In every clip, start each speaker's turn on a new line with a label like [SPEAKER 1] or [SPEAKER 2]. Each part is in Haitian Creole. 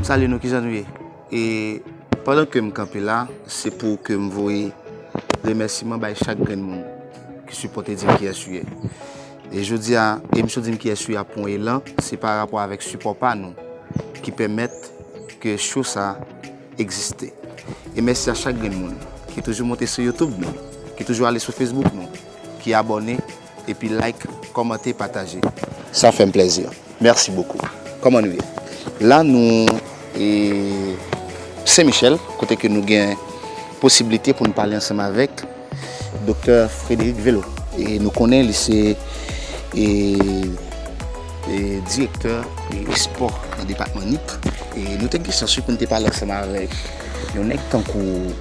[SPEAKER 1] Salut nou kizan nou ye e pandan ke m kanpe la se pou ke m voye remèsiman bay chak grenn moun ki sipote di m ki yès ou ye e jodi a emisyon di m ki yès ou ye ap pran elan se pa rapò avèk sipò pa nou ki pèmèt ke cho sa Egziste. E mèsi a chak grenn moun ki toujou monte sou YouTube nou, ki toujou ale sou Facebook nou, ki abòne, epi like, kòmante, pataje. Sa fèm plèzi. Mèsi bokou. Kòman nou ye? La nou e Sen Michel kote ke nou gen posibilite pou nou pale ansanm avèk. Doktè Frédéric Velo e nou konnen li se e direktè espò nan depatman Nip e nou te gen chans wi pou nou te pale ansanm avèk yon nèg tankou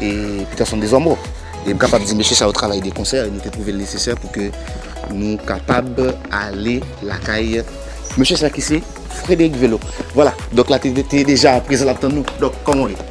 [SPEAKER 1] e Peterson Desormeaux e m kapab di mesye sa yo travay de konsè e nou te twouve l nesesè pou ke nou kapab ale lakay mesye sa ki se Frédéric Velo vwala dòk la te deja prezan l ap tann nou dòk kòman w ye?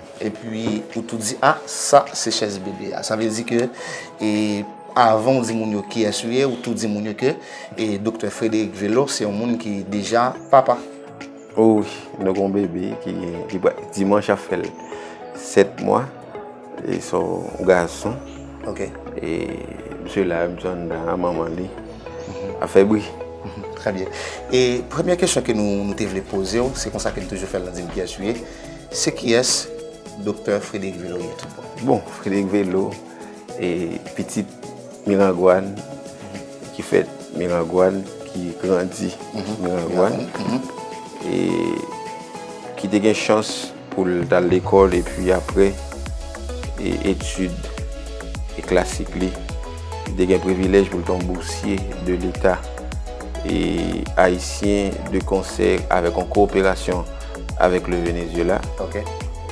[SPEAKER 1] Epi ou tou di ah sa se chèz bebe a. Sa vle di ke e avan ou di moun yo kiyès ou ye, ou tou di moun yo ke e doktè Frederick Velo se yon moun ki deja papa. O wi,
[SPEAKER 2] nou gen yon bebe ki ki pral dimanch ap fè 7 mwa. E se yon gason. Ok. E misye la menm jan nan manman li ap fè bri. Trè byen.
[SPEAKER 1] E premye kesyon ke nou te vle poze ou, se konsa ke nou toujou fè l nan di m kiyès ou ye. Se kiyès Doktè Frederick Velo ye tout bon? Bon, Frederick
[SPEAKER 2] Velo, e pitit Mirangwàn, ki fèt Mirangwàn, ki grandi Mirangwàn, e ki te gen chans pou l t al lekòl epi apre etid klasik li, li te gen privilèj pou l t yon bousye de leta ayisyen de konsè avèk yon koperasyon. avèk le Venezuela. Ok.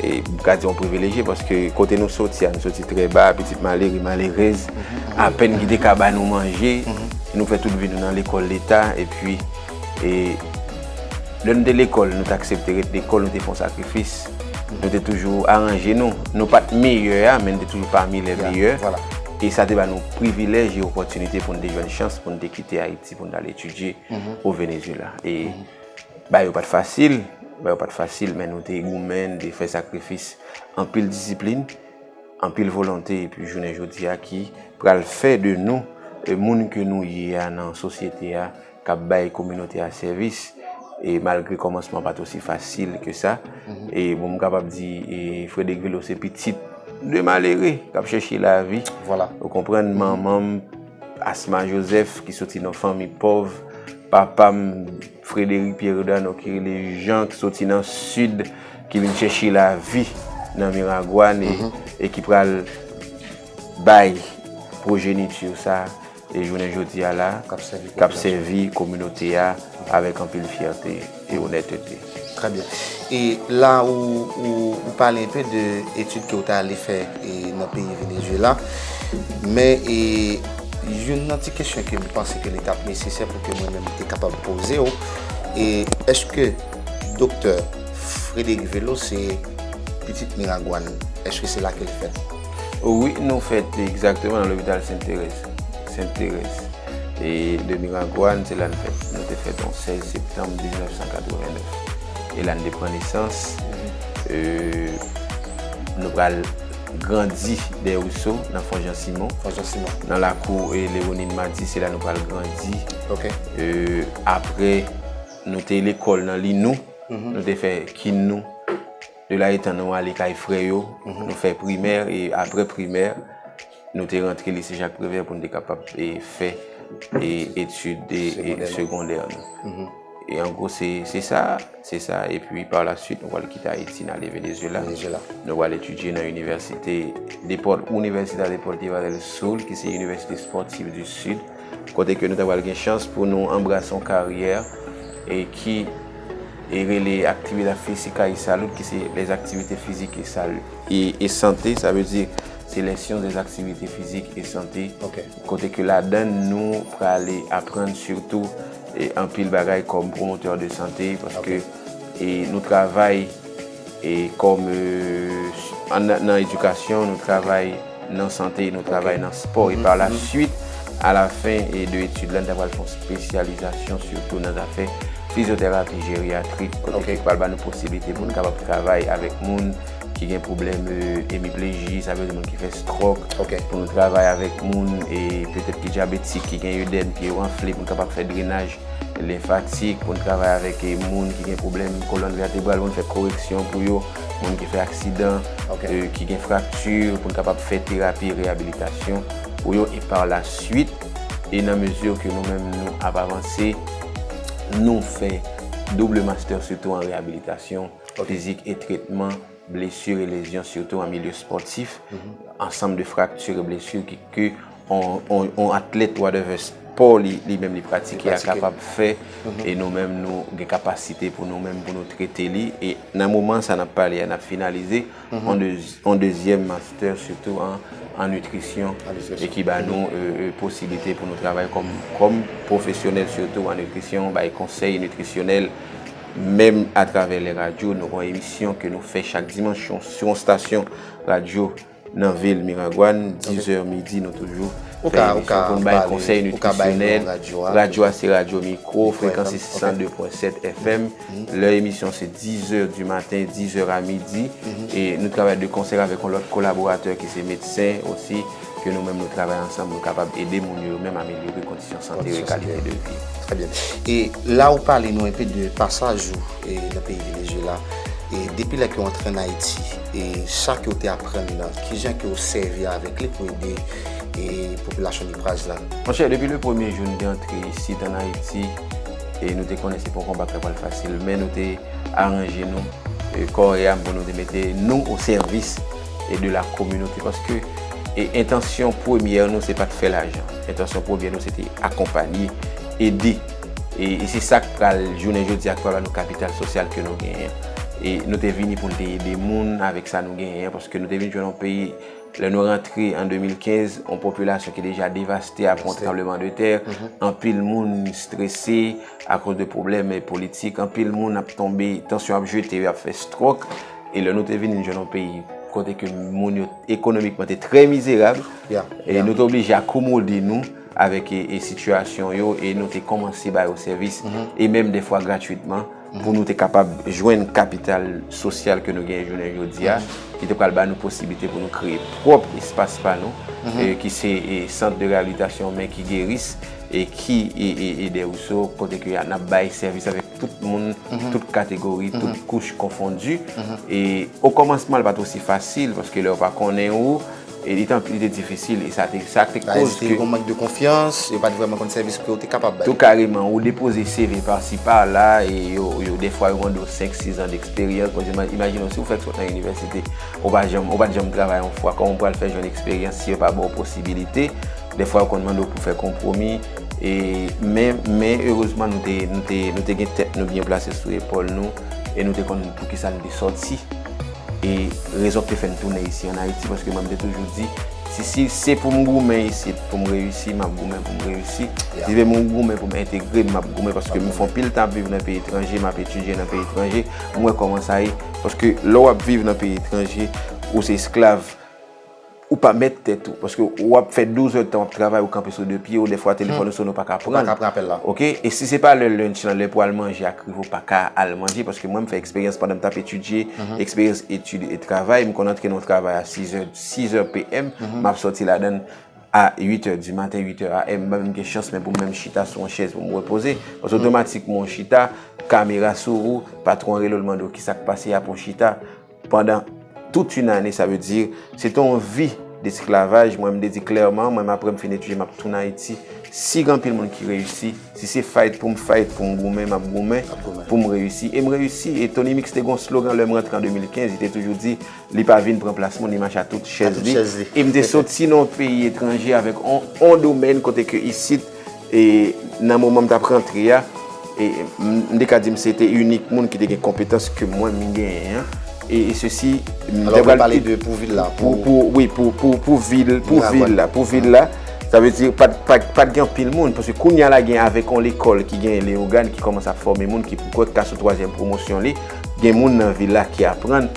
[SPEAKER 2] E
[SPEAKER 1] m ka di
[SPEAKER 2] yon privilejye paske kote nou soti a, nou soti trè ba, pitit malere, malerèz, apèn ki te ka ba nou manje. Nou fè tout vi nou nan lekòl leta epi e lè nou te lekòl, nou te aksepte ret lekòl, nou te fon sakrifis. Nou te toujou aranje nou. Nou pa t meyè a men nou te toujou pami lè meyè. E sa te ba nou privilèj e opòtinite pou nou te jwenn chans pou nou te kite Ayiti pou nou t al etidye o Venezuela. Bagay yo pa t fasil, bagay yo pa t fasil men nou te goumen, nou te fè sakrifis, anpil disiplin, anpil volonte epi jounen jodi a ki pral fè de nou moun ke nou ye a nan sosyete a k ap bay kominote a sèvis e malgre kòmansman pa t osi fasil ke sa e bon m kapab di Frederick Velo se pitit de malere k ap chèche lavi ou konprann
[SPEAKER 1] manman
[SPEAKER 2] m Asma Joseph ki soti nan fanmi pòv, papa m Frederic Pierredano ki rele Jan ki soti nan sid ki vin chèche lavi nan Miragoane e ki pral bay pwojeniti sa e jounen jodi a la k ap sèvi kominote a avèk anpil fyète. E onètete. Trè byen.
[SPEAKER 1] E la ou ou pale enpe de etid ke ou te ale fè e nan peyi Venezuela. Men e youn nan ti kesyon ke m panse ke li t ap nesesè pou ke mwen menm te kapab poze ou, e èske Doktè Frédéric Vélo se pitit Miragwàn? Èske se la ke l fèt? Wi, nou
[SPEAKER 2] fèt egzakteman nan lopital Sent Terèz. Sent Terèz. E de Miragwàn, se la n fèt. Nou te fèt yon 16 septanm 1989. E la n te pran nesans. E nou pral grandi dèyè Rouso, nan Fon Jan Simon. Fon Jan Simon. Nan lakou Lewonin Mati, se la nou pral grandi. Ok. E apre, nou te lekòl nan Linou. Nou te fè kin nou. De la etan nou ale kay frè yo. Nou fè primè, e apre primè. Nou te rantre lise Jacques Prévert pou nou te kapab fè etid segondè nou. E an gwo se sa, se sa. E pi pa la suit, nou wale kite Ayiti, nou wale Venezuela. Nou wale etidye nan Université de Paul, Universidad de Portiva del Sur, ki se Université Sportive du Sud. Kote ke nou ta wale gen chans pou nou anbrase yon karyè e ki e rele aktivite fizika e salut, ki se les activités physiques et salut. E sante, sa vle di... Seleksyon des activités physiques et santé kote ke ladann nou prale aprann sitou anpil bagay kòm promoteur de santé paske nou travay kòm nan edikasyon, nou travay nan santé, nou travay nan spò e par la suite a la fin de etude la nou ta pral fè yon spesyalizasyon sitou nan zafè fizyoterapi jeryatrik kote ki pral ba nou posiblite pou nou kapab travay avèk moun. ki gen pwoblèm emipleji, sa vle di moun ki fè stròk, pou nou travay avèk moun e petèt ki dyabetik, ki gen edèm, pye yo anfle pou n kapab fè drenaj lenfatik, pou n travay avèk moun ki gen pwoblèm kolòn vètebral pou n fè koreksyon pou yo, moun ki fè aksidan, ki gen frakti pou n kapab fè terapi reyabilitasyon pou yo e par la swit e nan mezi ke nou menm nou ap avanse nou fè double mastè sitou an reyabilitasyon. Fizik e tretman blesur e lezyon sitou an milye spòtif, ansanm de fraktur e blesur ki ke on atlèt wadèvè spò li menm li pratike a kapab fè e nou menm nou gen kapasite pou nou menm pou nou trete li e nan moman sa nap pale a nap finalize on dezyèm mastè sitou an nitrisyon e ki ba nou posiblite pou nou travay kòm pwofesyonèl sitou an nitrisyon bay konsèy nitrisyonèl. Menm atravè lè radyo, nou gon emisyon ke nou fè chak dimanch yon sou yon stasyon radyo nan vil Miragwàn, 10 zè midi nou toujou fè emisyon pou nou bay konsèy nitrisyonèl. Radyo a se radyo mikro, frekans se 102.7 FM. Lè emisyon se 10 zè di maten, 10 zè a midi. E nou travay de konsèy avèk yon lòt kolaboratè ki se medsen osi. Ke nou menm nou travay ansanm nou kapab ede moun yo yo menm amelyore kondisyon sante yo e kalite de vi yo. Trè byen. E
[SPEAKER 1] la ou pale nou enpe de pasaj ou nan peyi Venezyela. E depi lè ke ou antre an Ayiti, e sa ke ou te aprann nan, kijan ke ou sèvi avèk li pou ede e popilasyon Dupraz la? Monchè, depi le premye
[SPEAKER 2] jou nou te antre isit an Ayiti, e nou te konnen se pa yon konba ki ta pral fasil, men nou te aranje nou, kò e am pou nou te mete nou o sèvis. e de la kominote paske e entansyon premyè nou se pat fè lajan entansyon premyè nou se te akonpanye ede e se sak pral jounen jodi ak pral ba nou kapital sosyal ke nou genyen e nou te vini pou nou te ede moun avèk sa nou genyen paske nou te vin jwenn yon peyi lè nou rantre an 2015 yon popilasyon ki deja devaste a pwont tranbleman de tè anpil moun strese akoz de pwoblèm politik anpil moun ap tonbe tansyon ap jete yo ap fè strok E lè nou te vini nou jwenn yon peyi kote ke moun yo ekonomikman te trè mizerab, e nou te oblije akomode nou avèk e sitiyasyon yo, e nou te kòmanse ba yo sèvis, e menm de fwa gratwitman, pou nou te kapab jwenn kapital sosyal ke nou genyen jounen jodi a, ki te pral ba nou posiblite pou nou kreye pwòp espas pa nou, ki se e sant de reyabilitasyon men ki geris, e ki e e e de ou so, kote ke a nap bay sèvis avèk. tout moun, tout kategori, tout kouch konfondi. E o kòmansman li pa te osi fasil paske lè yo pa konnen ou, li te difisil. E sa te koz ke... Sa te koz yon mank de konfyans,
[SPEAKER 1] yo pa te vreman konn sèvis ke ou te kapab bay. Tou kareman, ou depoze
[SPEAKER 2] CV pa si pa la, e yo defwa yo mande ou 5, 6 an d'eksperyans. Bon, imajine ou si ou fèk sot nan inivèsite, ou pa janm travay yon fwa, kòman ou pral fè jwenn eksperyans si yo pa ba ou posibilite? Dèfwa yo konn mande w pou fè konpwomi, men erezman nou te gen tèt nou byen plase sou epòl nou e nou te konn poukisa nou te sòti e rezon ki te fè nou tounen isi an Ayiti. Paske mwen m te toujou di, si se pou m goumen isit pou m reyisi, m ap goumen pou m reyisi. Si se pou m goumen pou m entegre, m ap goumen. Paske m fè anpil tan ap viv nan peyi etranje, m ap etidye nan peyi etranje, m wè kòman sa ye. Paske lè w ap viv nan peyi etranje, ou se esklav. Ou pa mèt tèt ou. Paske ou ap fè 12 èd tan wap travay ou kanpe sou 2 pye ou defwa telefòn ou sone ou pa ka prann. Ou pa ka pran apèl la. Ok e
[SPEAKER 1] si se pa
[SPEAKER 2] lè lunch lan lè pou al manje ak rive ou pa ka al manje paske mwen m fè eksperyans pandan m tap etidye eksperyans etid e travay m konn antre nan yon travay a 6 è 6 è PM map sòti ladann a 8 è di maten 8 è AM banm m gen chans men pou m menm chita sou yon chèz pou m repoze paske otomatikman ou chita kamera sou ou patwon an rele w l mande w kisak pase apre w chita. Pandan tout yn ane sa vle di se te yon vi desklavaj mwen mte di klèman mwen aprèm fin etidye map tounen ayiti sig anpil moun ki reyisi si se fight poum fight poum goumen map goumen poum reyisi em reyisi e Tony Mix te gon slogan lèm rantre an 2015 li te toujou di li pa vin pran plas moun li mache a tout chèz li em te soti nan yon peyi etranje avèk yon domèn kote ke isit E nan moman m t ap rantre a, m te ka di m se te inik moun ki te gen konpetans ke mwen m genyen an. E sesi, m te pral pale de
[SPEAKER 1] pou vil la. Wi,
[SPEAKER 2] pou vil la. Pou vil la, sa vle di pa t gen anpil moun. Paske kounye a la gen avèk yon lekòl ki gen Leyogàn ki kòmanse ap fòme moun ki poukò t ka sou twazyèm pwomosyon li. Gen moun nan vil la ki aprann.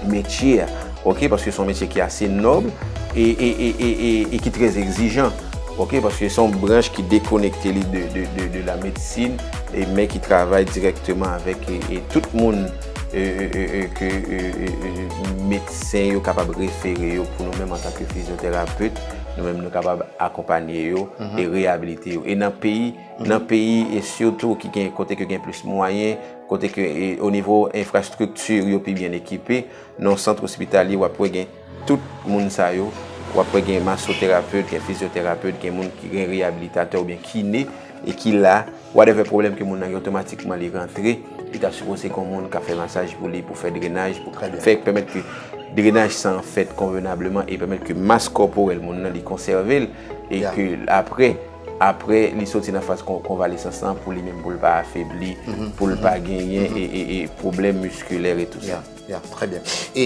[SPEAKER 2] metye a ok paske son metye ki ase nòb e e e e e e ki trè egzijan ok paske son branch ki dekonekte li de de de de la medsin e men ki travay dirèkteman avèk e e tout moun e e e e ke e e e medsen yo kapab refere yo pou nou menm antanke fizyoterapet nou menm nou kapab akonpanye yo e reyabilite yo e nan peyi nan peyi e sitou ki gen kote ke gen plis mwayen Kote ke o nivo enfrastrikti yo pi byen ekipe, nan yon sant ospitalye wap wè gen tout moun sa yo, wap wè gen masoterapet, gen fizyoterapet, gen moun ki gen reyabilitatè oubyen kine e ki la, whatever pwoblèm ke moun nan gen otomatikman li rantre, li ta sipoze gen yon moun kap fè masaj pou li, pou fè drenaj, pou fè pèmèt ke drenaj san an fèt konvenableman e pèmèt ke mas kòporèl moun nan li konsève l e ke aprè. Apre li soti nan faz konvalesans lan pou li menm pou l pa afebli, pou l pa genyen pwoblèm miskilè e tou sa. Ya, trè byen. E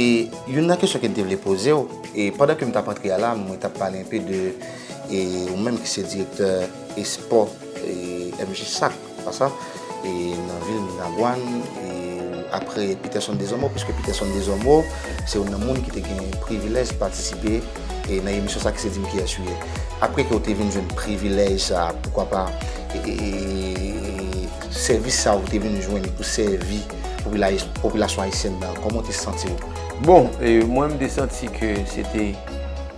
[SPEAKER 1] youn nan kesyon ke m te vle poze w, e pandan ke m t ap antre a la, mwen t ap pale anpe de ou menm ki se direktè espò MJSAC. Basa, e nan vil Miragwàn, e apre Peterson Desormeaux, piske Peterson Desormeaux se youn nan moun ki te gen privilèj patisipe e nan emisyon sa ki se di m kiyès ou ye. Apre ke ou te vin jwenn privilèj sa, poukwa pa e sèvis sa ou te vin jwenn pou sèvi popilasyon ayisyèn nan, kòman ou te santi ou? Bon, e
[SPEAKER 2] mwen m te santi ke se te,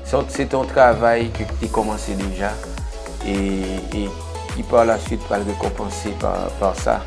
[SPEAKER 2] se te yon travay ke te kòmanse deja, e. ki par la suite pral rekonpanse par sa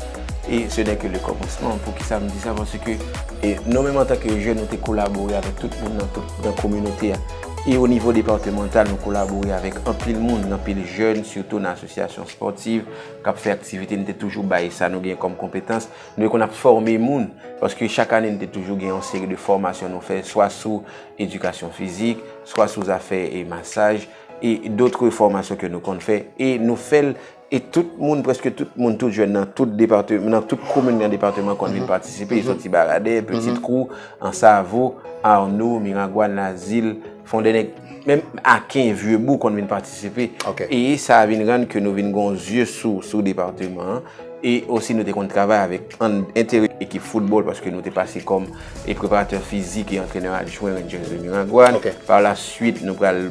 [SPEAKER 2] e se nè ke le komansman, pou kisa m di sa paske ke nou menm antanke jèn nou te kolabore avèk tout moun nan tout nan kominote a e o nivo departemantal nou kolabore avèk anpil moun nan pil jèn sitou nan asosyasyon spòtiv kap fè aktivite nou te toujou bay sa nou gen kòm konpetans nou e konn ap fòme moun paske chak ane nou te toujou gen yon seri de fòmasyon nou fè swa sou edikasyon fizik swa sou zafè e masaj. e dotre fòmasyon ke nou konn fè e nou fèl e tout moun preske tout moun tout jèn nan tout departe nan tout komin nan departeman konn vin patisipe yo soti baradè piti tkou ansavo arno miragwan lazil fondènèg menm aken vyebou konn vin patisipe e sa vin rann ke nou vin gon zye sou sou departeman e osi nou te konn travay avèk an entere ekip foutbòl paske nou te pase kòm. e preparatè fizik e antrenè adjwen Rangers de Miragwàn. Par la suite, nou pral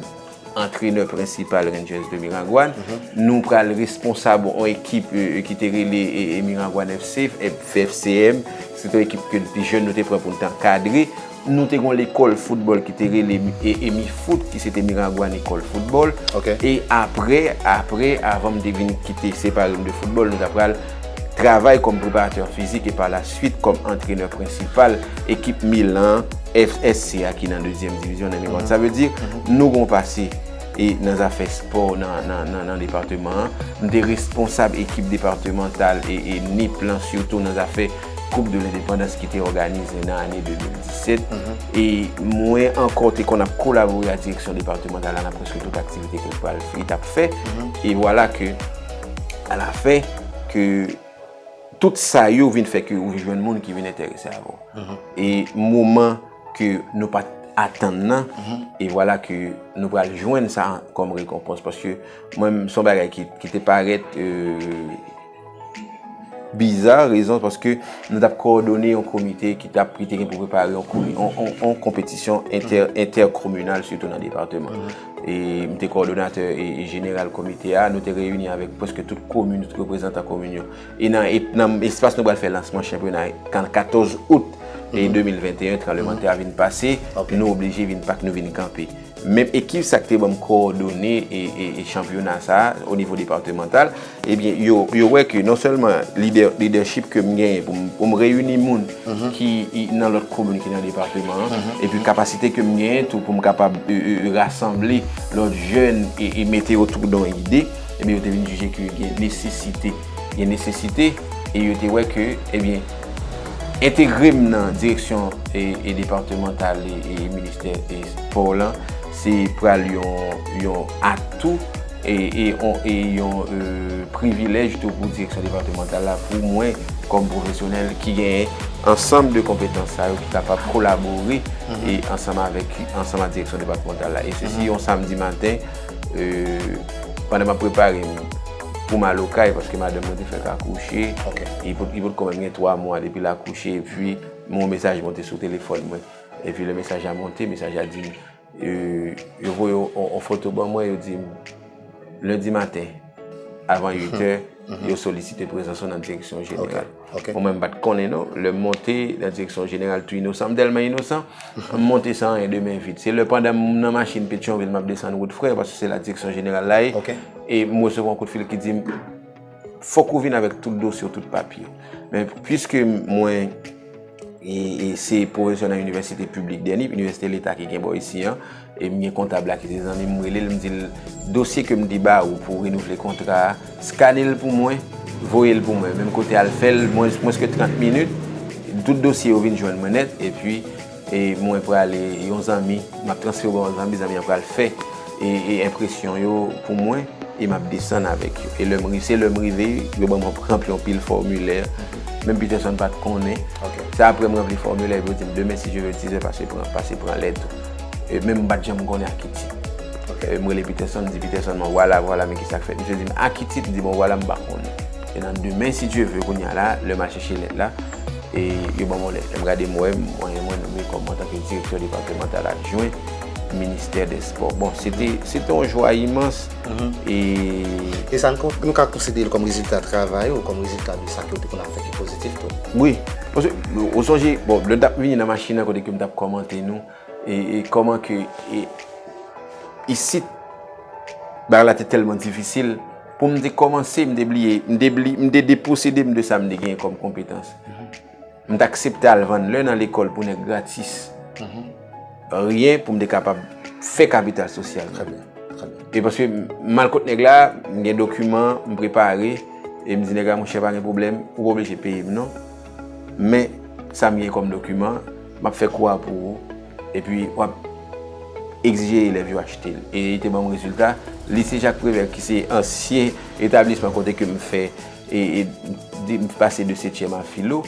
[SPEAKER 2] antrenè prensipal Rangers de Miragwàn. Nou pral responsab yon ekip ki te rele Miragwàn FC, FCM. Se te yon ekip ke depi jèn nou te pran pou nou te ankadre. Nou te gen yon lekòl foutbòl ki te rele Mifout ki se te Miragwàn Ecole Football. E apre, apre, avan m te vin kite, separe m de foutbòl, nou ta pral. travay kòm preparatè fizik e pa la swit kòm antrenè prensipal ekip Milan FSC a ki nan dezyèm divizyon nan Iran. Sa vle di, nou gen yon pase nan zafè espò nan departeman an. M te responsab ekip departemantal e Nip lan sitou nan zafè koup de lendepandans ki te òganize nan ane 2017. E mwen ankò te konn ap kolabore ak direksyon departemantal la nan prèske tout aktivite ke pral, li t ap fè. E vwala ke. A la fen ke tout sa yo vin fè ke ou vin jwenn moun ki vin enterese avè ou. E moman ke nou pa t atann nan, e vwala ke nou pral jwenn sa kòm rekonpans. Paske mwen menm son bagay ki te parèt biza, rezon paske nou t ap kowòdone yon komite ki te gen pou prepare yon konpetisyon entèkominal sitou nan depatman. E m te kòdonatè jeneral komite a. Nou te reyini avèk pwèske tout komin, tout reprezantan komin yo. E nan espas nou bal fè lansman chanpyona a, kan 14 out 2021, tranblemanntè a vin pase, nou oblije vin pak, nou vin kanpe. Menm ekip sa k te banm kòdone chanpyona sa a, o nivo departemantal, Ebyen yo wè ke non sèlman lidèchip ke m genyen pou m reyini moun ki nan lòt komin ki nan depatman an, epi kapasite ke m genyen tou pou m kapab rasanble lòt jèn e mete yo tou dan ide, ebyen yo te vin jije ke gen nesesite. Gen nesesite e yo te wè ke ebyen entegre m nan direksyon depatmantal e ministè espò w lan se pral yon atou. E yon privilèj tou pou direksyon depatmantal la, pou mwen kòm pwofesyonèl ki genyen ansanm de konpetans sa yo ki kapab kolabore ansanm avèk ansanm ak direksyon depatmantal la. E sesi yon samdi maten, pandan m ap prepare m pou m al okay, paske madanm mwen te fèk akouche, li pot ko menm gen 3 mwa depi l akouche, epi m wè yon mesaj monte sou telefòn mwen. Epi lè mesaj la monte, mesaj la di m. Yo voye yon foto ban mwen, yo di m, lendi maten, avan 8 è, yo solisite prezans ou nan direksyon jeneral. Mwen mwen m pa t konnen non. Lè m monte nan direksyon jeneral tou inosan, m tèlman inosan, m monte san anyen, de men vid. Se lè pandan m nan machin Petyonvil m ap desann wout Frè, paske se la direksyon jeneral la ye, e m resevwa yon kout fil ki di m, Fòk ou vin avèk tout dosye ou, tout papye ou. Men, pwiske mwen se pwofesè nan inivèsite piblik dèni, inivèsite leta ki gen bò isi an, e m gen kontab la ki se zanmi m, m rele l, m di l, dosye ke m te ba ou pou renouvle kontra a, skane l pou mwen, voye l pou mwen. Menm kote al fè l, mwens ke 30 minit, tout dosye yo vin jwenn mwen nèt, epi. E mwen prale yon zanmi, m ap transfere w yon zanmi, zanmi an pral fè enpresyon yo pou mwen e m ap desann avèk yo. E lè m rive, se lè m rive, yo ban m yon pranp yon pil fòmilè, menm Peterson pa t konnen. Se apre m ranpli fòmilè epi yo di m demen si je ve tizè pase pran, pase pran lèt ou. E menm m pa t janm konnen Akiti. E m rele Peterson, m di Peterson bon vwala, vwala men kisa k fèt. Misye di m Akiti, m di bon vwala m pa konnen. E nan demen si je ve kounya la, lè m al chèche lèt la. E yo ban mwen lèt. Lè m gade m wè mwen nome kòm antanke direktè depatemantal adjwen ministè dè spò. Bon, se te se te yon jwa imans e. E sa
[SPEAKER 1] nou ka konsidere l kòm rezilta travay ou, kòm rezilta de sa ke ou te konn ap fè ki pozitif tou? Wi. Paske
[SPEAKER 2] ou sonje, bon, lè n t ap vini nan machin nan kote ke m t ap kòmante nou e kòman ke isit bagay la te tèlman difisil. Pou m te kòmanse, m te bliye, m te bli, m te deposede m de sa m te genyen kòm konpetans. M te aksepte al vann lè nan lekòl pou nèg gratis. Ryen pou m te kapab fè kapital sosyal. Trè byen, trè
[SPEAKER 1] byen. E paske
[SPEAKER 2] m al kot nèg la, m gen dokiman, m prepare, e m di nèg la, monchè pa gen pwoblèm, ou pa oblije peye m non, men sa m gen kòm dokiman, M ap fè kou a pou ou. Epi w ap egzije elèv yo achte l. E te ban m rezilta. Lise Jak Prevè ki se ansyen etablisman kote ke m fè, m pase de setyèm a filo.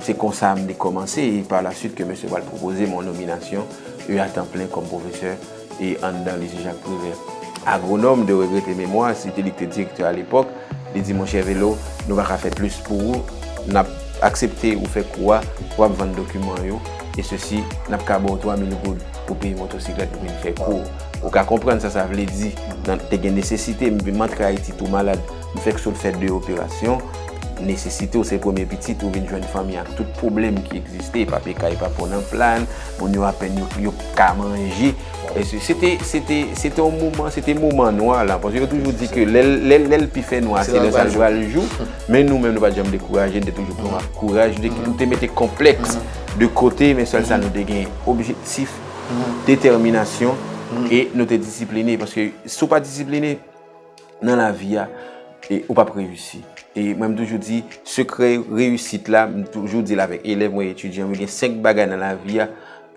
[SPEAKER 2] Se konsa m te kòmanse e pa la suit ke mesye pral pwopoze m yon nominasyon e a tan plen kòm pwofesè. e anndan Lycée Jacques Prévert. Agronome de regrete memwa si te li k te direktè a lepòk, li di monchè Velo, nou pa ka fè plis pou ou, n ap aksepte ou fè kou a, w ap vann dokiman an yo, e sesi, n ap ka ba w 3000 goud pou peye motosiklèt pou vin fè kou. Ou ka konprann sa sa vle di nan te gen nesesite m antre Ayiti tou malad. M fèk sot fè 2 operasyon, nesesite w se premye pitit ou vin jwenn fanmi ak tout pwoblèm ki egziste, papye kay pa bon nan plan, moun yo apèn yo yo p ka manje. Se te se te se te yon moman se te moman nwa lan paske yo toujou di ke lè lè lè l pi fè nwa se lè sa l pral jou men nou menm nou pa t janm dekouraje n te toujou pran ak kouraj nou te mete konplèks de kote men sèl sa nou te gen objektif detèminasyon e nou te disipline paske si w pa disipline nan lavi a, e ou pap reyisi. E mwen m toujou di, sekrè reyisit la, m toujou di l avèk elèv mwen, etidyan mwen, gen 5 bagay nan lavi a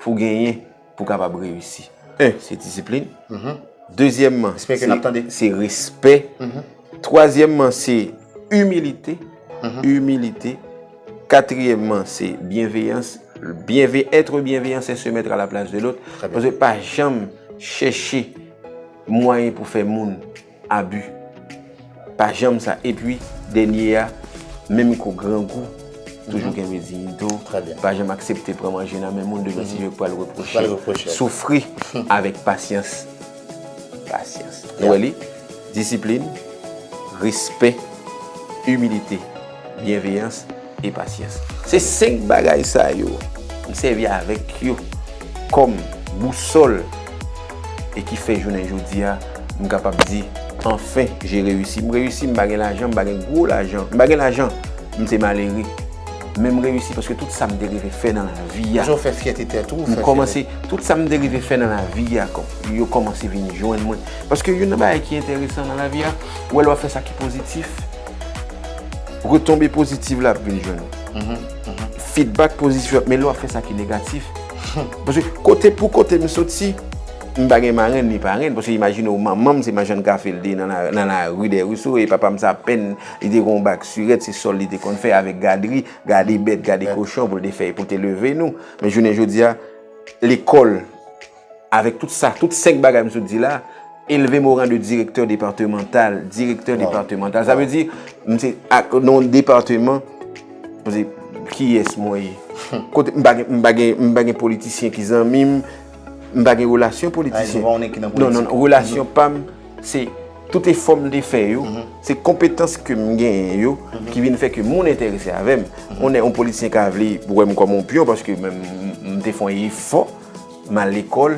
[SPEAKER 2] pou genyen pou kapab reyisi. 1, se disiplin. Dezyèmman, se respè. Twazyèmman, se imilite. Imilite. Katriyèmman, se byenveyans. Etre byenveyan se se mètre a la plas de lòt. Pase pa janm chèche. Mwayen pou fè moun abi. Pa janm sa epi dènye a menm ko grangou toujou gen rezin do pa janm aksepte pran manje nan men moun devan si yo k pral repwoche soufri avèk pasyans pasyans nou wè li disiplin respè imilite byenveyans. e pasyans. Se 5 bagay sa yo m sèvi avèk yo kòm bousòl e ki fè jounen jodi a m kapab di anfen je reyisi. M reyisi m pa gen lajan, m pa gen gwo lajan, m pa gen lajan, m se malere men m reyisi paske tout sa m te rive fè nan lavi a. Koman w fè fyète tèt
[SPEAKER 1] ou? M kòmanse, tout sa
[SPEAKER 2] m te rive fè nan lavi a yo kòmanse vin jwenn mwen. Paske youn nan bagay ki enteresan nan lavi a, wè lè w ap fè sa ki pozitif, Retonbe pozitiv la ap vin jwenn ou. Fidbak pozitif yo ap mele ou ap fè sa ki negatif. Paske kote pou kote m soti, m pa gen marenn ni parenn. Paske imajine ou manman m se majann kafe l te ye nan lari dè ri sou e papa m se apèn li te gen yon bak sirèt se sòl li te konn fè avèk gadri, gade bèt, gade kochon pou l te fè, pou l te leve nou. Men jounen jodi a, lekòl. Avèk tout sa, tout 5 bagay m sot di la, elve m o ran de direktè departemantal, direktè departemantal, sa vle di, m se ak non departeman, m se, kiyès mwen ye? Kote, m pa gen, m pa gen, m pa gen politisyen ki zanmi m, m pa gen relasyon politisyen. Ayy, m pa konnen ki nan politik. Non, non, relasyon pa m, se, tout efò m te fè yo, se konpetans ke m genyen yo, ki vin fè ke moun enterese avè m. On nè, on politisyen ka vle wè m kòm on pyon, paske m te fon efò. M al lekòl,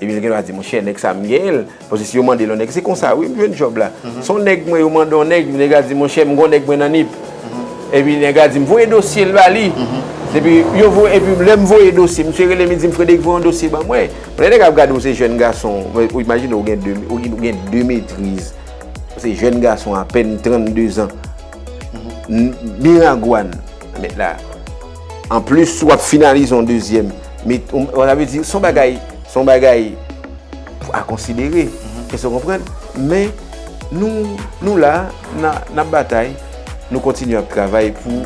[SPEAKER 2] epi l gen dwa di, monchè, nèg sa a m genyen l, paske si yo mande l yon nèg, se konsa wi m jwenn djòb la. Se yon nèg mwen, yo mande yon nèg, nèg la di, monchè, m gen yon nèg mwen nan Nip. Epi nèg la di m, voye dosye l ba li. Epi yo voye, epi lè m voye dosye, misye rele m, li di m, Frederic, voye yon dosye ban mwen. Bon, lè nèg ap gade w se jèn gason, ou imajine w gen 2, ou gen 2 metriz, ou se jèn gason apèn 32 zan, Miragwàn, mèt la. An plis si w ap finalize yon dezyèm, sa vle di son bagay, son bagay a konsidere, èske w konprann? Men nou, nou la, n ap batay, nou kontinye ap travay pou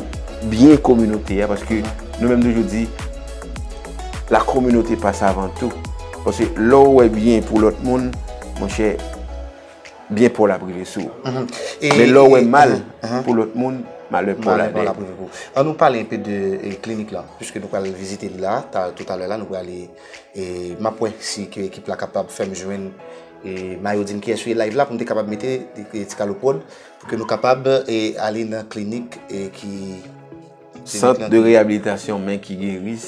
[SPEAKER 2] byen kominote a paske nou menm toujou di la communauté passe avant tout paske lè w wè byen pou lòt moun, monchè. byen paw lap rive sou ou. Men lèw wè mal pou lòt moun, malè paw lap rive pou ou. An nou pale enpe
[SPEAKER 1] de klinik la, pwiske nou pral vizite li la, tout alè la nou prale e map wè si ke ekip la kapab fèm jwenn e mayo dim kiyès li live la poum te kapab mete ti kalo prod pou ke nou kapab ale nan klinik e ki Sant
[SPEAKER 2] de reyabilitasyon men ki geris,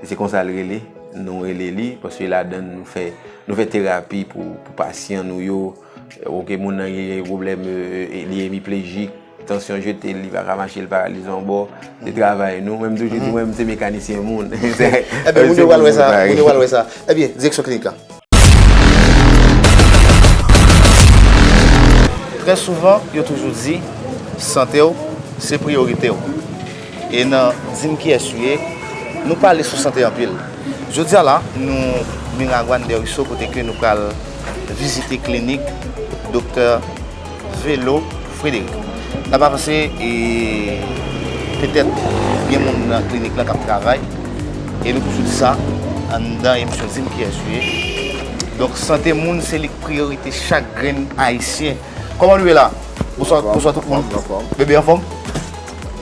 [SPEAKER 2] se konsa l rele, nou rele li, paske ladan n nou fè terapi pou pasyan nou yo, ok moun nan gen yon pwoblèm li emiplejik, tansyon jete l, li pa ka mache, li paralize yon bò, se travay nou, mwen m toujou di mwen m se mekanisyen moun. Ebyen moun yo
[SPEAKER 1] pral wè sa, moun yo pral wè sa. Ebyen direksyon klinik la. Trè souvan, yo toujou di, sante w, se priyorite w. E nan Di m kiyès ou ye, nou pale sou sante anpil. Jodi a la, nou Miragwàn Dèriso kote ke nou pral vizite klinik Doktè Velo. Frédéric, Sa pa panse e petèt gen moun nan klinik lan k ap travay e nou toujou di sa anndan emisyon di m kiyès ou ye donk sante moun se li k priyorite chak grenn ayisyen Kòman nou ye la? Bonswa bonswa tout moun Bebe anfòm?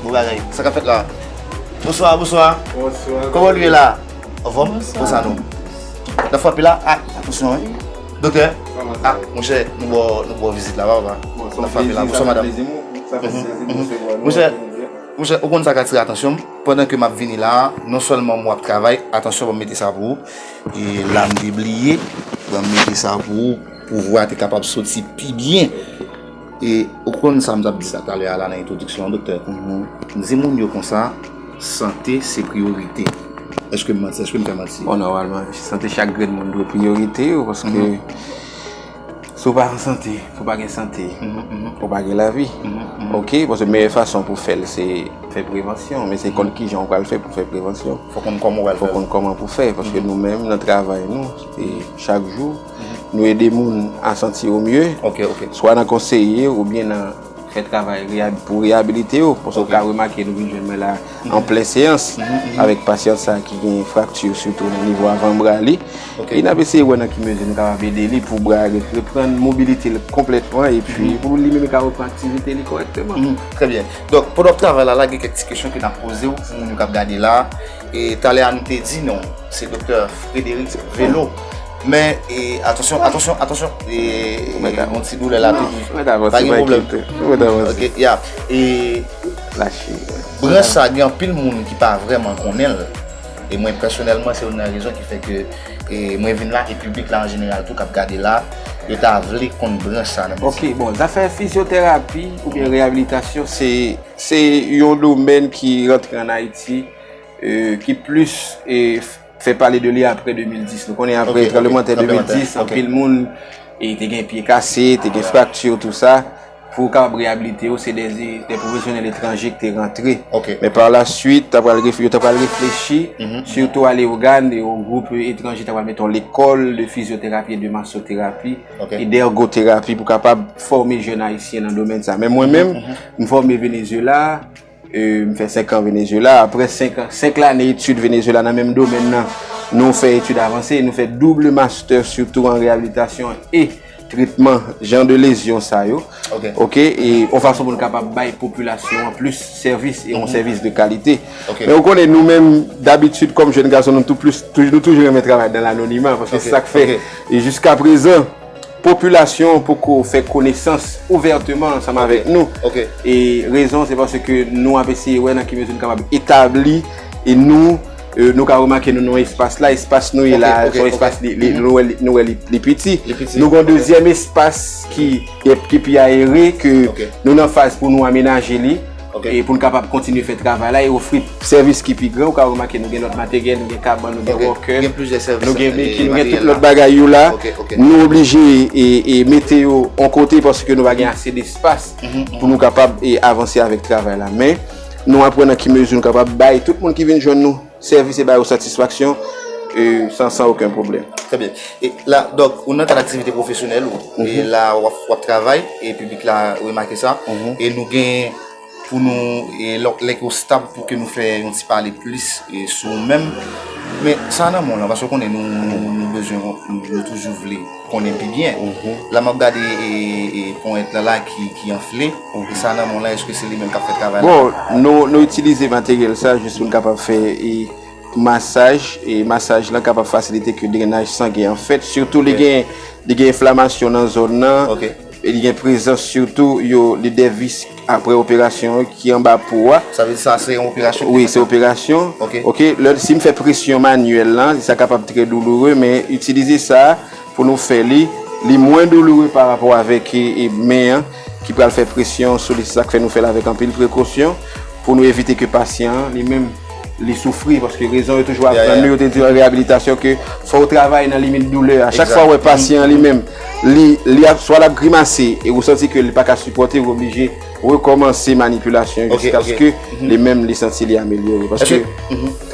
[SPEAKER 1] Bon bagay Sa k ap fèt la? Bonswa bonswa Kòman nou ye la? Anfòm? Konsa nou N ap frape la? Atansyon wi Doktè, ah monchè nou bò nou bò vizit la papa. Bonsoir, Nap frape la. Bonsoir madame. Monchè, monchè, ou konn sa ka atire atansyon m, pandan ke map vini la, non sèlman mwen ap travay, atansyon banm mete sa pou ou, e la m te bliye, banm mete sa pou ou, pou vwa te kapab soti pi byen. E ou konn sa m t ap di sa talè a la nan entwodiksyon an doktè? M di moun yo konsa, sante se priyorite. Èske m manti? Èske m fè manti? Bon, nòmalman,
[SPEAKER 2] sante chak grenn moun dwe priyorite yo paske si w pa an sante, si w pa gen sante, ou pa gen lavi. Oke? Paske meyè fason pou fè l se fè prevansyon. Men se konn kijan ou pral fè pou fè prevansyon. Fò w konn kòman w pral fè l. Fò w
[SPEAKER 1] konn kòman pou fè l. Paske nou
[SPEAKER 2] menm nan travay nou, chak jou. Nou ede moun a santi yo mye, swa nan
[SPEAKER 1] konseye
[SPEAKER 2] yo oubyen nan fè travay pou reyabilite yo. Paske ou ka remake nou vin jwenn mwen la an plen seyans avèk pasyant sa ki gen frakti sitou nan nivo avan bra li. E n ap eseye wè nan ki mezi nou kapab ede li pou bra li reprann mobilite l konplètman epi pou li menm ka reprann aktivite li kòrèkteman. Trè byen. Donk,
[SPEAKER 1] pandan w ap travay la la, gen kèk ti kesyon ke n ap poze w pou moun yo k ap gade la. Talè a nou te di nou se Doktè Frédéric Vello. Men e atansyon atansyon atansyon e ou mèt a yon ti doulè la tou ou mèt avanse pa gen pwoblèm ou mèt avanse ok ya e lache
[SPEAKER 2] branch sa
[SPEAKER 1] gen anpil moun ki pa vrèman konnenl e mwen pèsonèlman se youn nan rezon ki fè ke e mwen vin la e piblik la an jeneral tou kap gade la yo ta vle konn branch sa nan medsin ok bon zafè
[SPEAKER 2] fizyoterapi oubyen reyabilitasyon se se yon domèn ki rantre an ayiti e ki plis e Fè pale de li apre 2010. Nou konnen apre tranbleman tè 2010, anpil moun te gen pye kase, te gen frakti ou tout sa. Pou ou kapab reyabilite ou, se de pwofesyonèl etranje ki te rantre. Men pa la
[SPEAKER 1] suit,
[SPEAKER 2] yo ta pral reflechi, sitou a Leyogan, yon gwoup etranje ta pral mete yon lekòl de fizyoterapi e de masoterapi, e de ergoterapi pou kapab fòme jèn ayisyen nan domèn sa. Men mwen menm, m fòme Venezuela. M fè 5 an Venezuela, aprè 5 lane etid Venezuela nan menm domèn nan, nou fè etid avanse, nou fè double master sitou an reyabilitasyon e tretman jan de lezyon sa yo, ok, e yon fason pou nou kapab bay popilasyon an plis sèvis e yon sèvis de kalite. Men ou konnen nou menm dabitid kòm jèn gason nou toujou renmen travay dan lanonima, paske se sa k fè jiska prezan. Popilasyon poko fè konesans ouvèteman ansanm avèk nou e rezon se paske nou ap eseye wè nan ki mezi nou kapab etabli nou, nou ka remake nou nan espas la, espas nou ye la a son espas nou wè li piti, nou gen yon dezyèm espas ki pi ayere ke nou nan faz pou nou amenaje li. e pou n kapab kontinye fè travay la e ofri sèvis ki pi gran ou ka remake nou gen lòt materyèl nou gen kabann, nou gen wòkè nou gen
[SPEAKER 1] beki, nou gen tout
[SPEAKER 2] lòt bagay yo la nou oblije e mete yo on kote paske nou pa gen ase de espas pou nou kapab avanse avèk travay la men nou ap wè nan ki mezi nou kapab bay tout moun ki vin jwenn nou. Sèvis e ba yo satisfaksyon san oken pwoblèm. Trè byen. E
[SPEAKER 1] la, dòk, ou nan kad aktivite pwofesyonèl ou. E la w ap travay, e piblik la remake sa. E nou gen pou nou, e lè ke w stab pou ke nou fè yon ti pale plis sou ou menm. Men, sa nan men w lan, paske w konnen nou bezwen, nou toujou vle. konnen pi byen la map gade ponyèt la la ki anfle e sa nan menw la eske se li menm kap fè travay la bon nou
[SPEAKER 2] itilize materyèl sa jis poun kapab fè masaj e masaj la kapab fasilite ke drenaj sangen an fèt sitou li gen enflamasyon nan zòn nan Li gen prezans sitou yo lide vis apre operasyon an ki anba po a. Sa vle di sa se yon
[SPEAKER 1] operasyon? Wi, se operasyon.
[SPEAKER 2] Ok. Ok, lè si m fè presyon manyèl la, sa kapab trè douloure men itilize sa pou nou fè li, li mwen douloure pa rapò avèk men an ki pral fè presyon sou li. Se sa k fè nou fè l avèk anpil prekosyon pou nou evite ke pasyan an li menm. Li soufri paske rezon yo toujou aprann nou yo te di an reyabilitasyon ke fò ou travay nan limit doulè a. Chak fwa ou wè pasyan an li menm li ap swa l ap grimase e ou santi ke li pa ka sipòte ou oblije rekòmanse manipilasyon an jiskaske li menm li santi li amelyore paske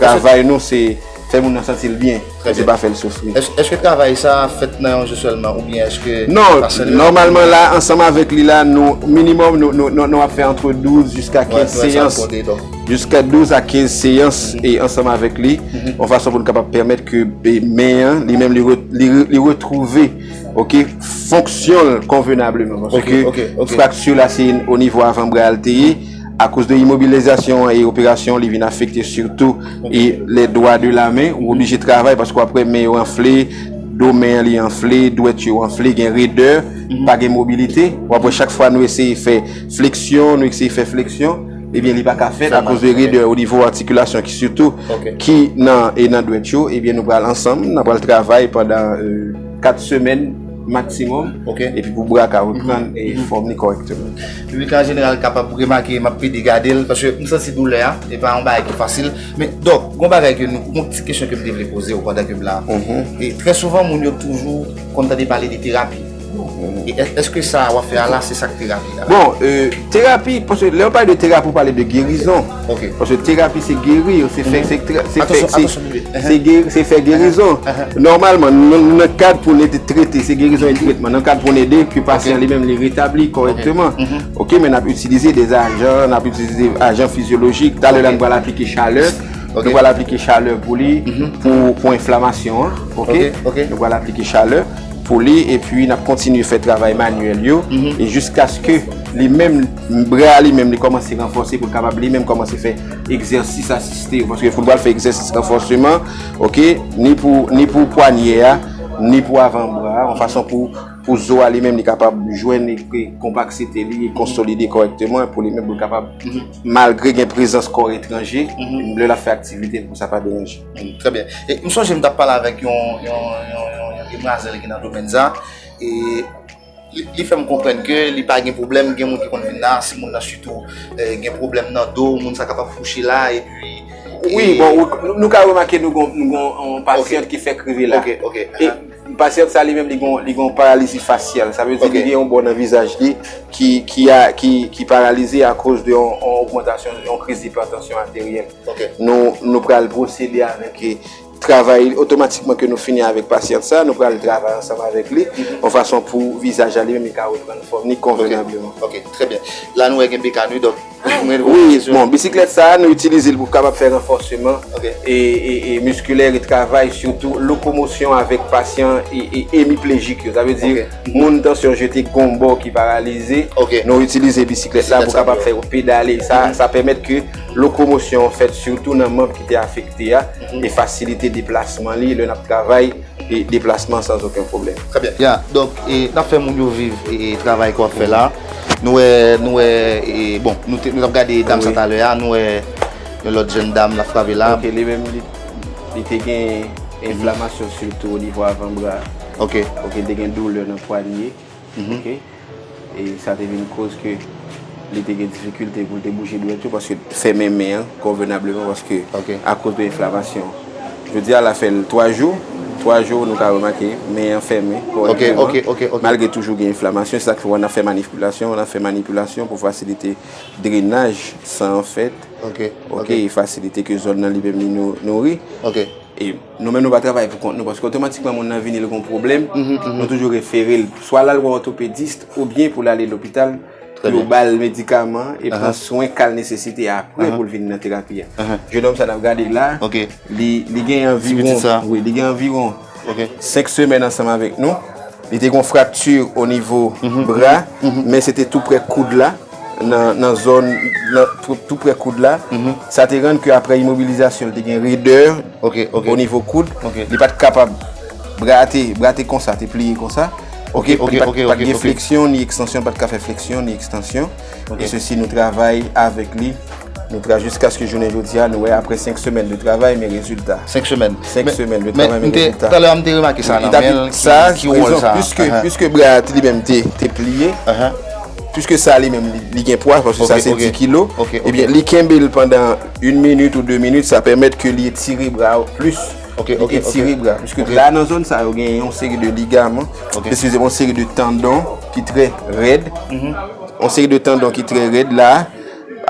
[SPEAKER 2] travay nou se fè moun nan santi l byen. Trè byen. Bondye pa fè l soufri. Èske travay sa
[SPEAKER 1] a fèt nan yon jou sèlman oubyen èske Non, sa sèlman nòmalman
[SPEAKER 2] la ansanm avèk li la nou minimòm nou ap fè antre 12 jiska 15 seyans, jiska 12 a 15 seyans e ansanm avèk li yon fason pou nou kapab pèmèt ke men an li menm li retwouve ok fonksyon l konvenableman paske frakti la se onivo avanbra a l te ye. Akoz de imobilizasyon an e operasyon li vin afekte sitou e lè dwa de la men ou oblije travay paske wap wè men yo anfle, do men an li anfle, dwèt yo anfle, gen redè, pa gen mobilite, wap wè chak fwa nou eseye fè fleksyon, nou eseye fè fleksyon ebyen li pa ka fèt akoz de redè o nivo atikilasyon ki sitou ki nan e nan dwèt yo ebyen nou pral ansanm nan pral travay pandan 4 semèn maksimòm epi pou bra ka reprann fòm li kòrèkteman. Piblik la an jeneral
[SPEAKER 1] kapab remake m ap pede gade l paske m santi doulè a, e pa yon bagay ki fasil. Men dòk, gon bagay ke nou, gon ti kesyon ke m te vle poze w pandan ke m la. E trè souvan moun yo toujou konn tande pale de terapi. E èske sa w ap fè a la se sa k terapi a? Bon, terapi,
[SPEAKER 2] paske lè yo pale de terapi ou pale de gerizon. Ok. Paske terapi se geri yo, se fè, se fè, se fè, se geri, se fè gerizon. Nòmalman, nan kad pou nou te trete, se gerizon e tretman. Nan kad pou nou ede, ke pasyan li menm li retabli kòrèkteman. Ok, men nap itilize de ajan, nap itilize ajan fizyolojik. Talè la nou pral aplike chalè. Nou pral aplike chalè pou li, pou enflamasyon an. Ok. Ok. Nou pral aplike chalè pou li, epi nap kontinye fè travay manyèl yo, e jiskaske li menm. Membran an li menm li kòmanse ranfòse pou l kapab li menm kòmanse fè egzèsis asiste yo paske foutbòl fè egzèsis ranfòseman ok ni pou ni pou pwanyè a ni pou avan bra a yon fason pou pou zo a li menm li kapab jwenn e konpaksite li e konsolide kòrèkteman pou li menm pou l kapab malgre gen prezans kò etranje lè l ap fè aktivite l pou sa pa deranje. Trè byen. E m
[SPEAKER 1] sonje m t ap pale avèk yon yon yon yon demwazèl ki nan domèn sa e. Li fè m konprann ke li pa gen pwoblèm, gen moun ki konn vin la, si moun nan sitou gen pwoblèm nan do, moun sa kapab kouche la, epi... Wi,
[SPEAKER 2] bon, nou ka remake nou gen yon pasyant ki fèk rive la. Ok, ok. E, pasyant sa li menm li gen yon paralizi fasyal, sa vle di li gen yon bò nan vizaj li ki paralize akoz de yon ogmantasyon, yon kriz dipatansyon ateryèl. Ok. Nou pral pwosede avèk... Travay otomatikman ke nou fini avèk pasyant sa, nou pral travay ansanm avèk li, yon fason pou vizaj la li menm li ka reprann fòm li konvenableman. Ok, trè byen.
[SPEAKER 1] La nou wè gen BK nou, donk mwen rive poze kesyon. Wi, bon,
[SPEAKER 2] bisiklèt sa a nou itilize l pou kapab fè ranfòseman miskilè, e travay sitou lokomosyon avèk pasyan emiplejik yo, sa vle di moun tansyon jete gon bò ki paralize, nou itilize bisiklèt la pou kapab fè yo pedale, sa pèmèt ke lokomosyon an fèt sitou nan manb ki te afekte a. E fasilite deplasman li lè nap travay e deplasman sans oken pwoblèm. Trè byen. Ya, donk
[SPEAKER 1] e nap fè moun yo viv e travay ke wap fè la. Nou wè, nou wè e bon, nou te, nou tap gade dam sa talè a, nou wè yon lòt jèn dam la frape la. Ok, li menm li,
[SPEAKER 2] li te gen enflamasyon sitou onivo avan bra. Ok. Ok, li
[SPEAKER 1] te gen doulè
[SPEAKER 2] nan pwanye. ok e sa te vin koz ke li te gen difikilte pou l te bouje dwèt yo paske fèmen men an konvenableman paske akoz de enflamasyon jodi a la fè 3 jou 3 jou nou ka remake men an fèmen konvenableman malgre toujou gen enflamasyon se sa k fè wè n ap fè manipilasyon n ap fè manipilasyon pou fasilite drenaj san an fèt ok e fasilite ke zòn nan li menm li nouri e. Nou menm nou pa travay pou kont nou paske otomatikman moun nan vini li gon pwoblèm, nou toujou refere l swa l al wè òtopedist oubyen pou l ale lopital pou yo ba l medikaman e pran swen ka l nesesite apre pou l vini nan terapi a. Jenòm sa n ap gade la, li gen anviwon 5 semèn ansanm avèk nou. Li te gen yon frakti o nivo bra, men se te tou prè koud la, nan zòn, tou prè koud la. Sa te rann ke apre imobilizasyon, li te gen redè o nivo koud. Li pa te kapab, bra a te, bra te konsa, te pliye konsa. Ok, ok, ok, ok. Li pa te gen fleksyon ni ekstansyon, li pa te ka fè fleksyon ni ekstansyon. Nou gen sesi, nou travay avèk li, nou tra jiskaske jounen jodi a, nou wè apre 5 semèn de travay men rezilta. 5 semèn.
[SPEAKER 1] 5 semèn
[SPEAKER 2] de travay men rezilta. Men, talè
[SPEAKER 1] a m te remake sa nan men l, ki wòl sa.
[SPEAKER 2] Piske bra a li menm te pliye, piske sa li menm li gen pwa, paske sa se 10 kilo, ebyen li kenbe l pandan 1 minit ou 2 minit, sa pèmèt ke li etire bra ou plis, li etire bra. Piske la nan zòn sa yo gen yon seri de ligaman, eskize m, yon seri de tandon. ki trè rèd, yon seri de tandon ki trè rèd la,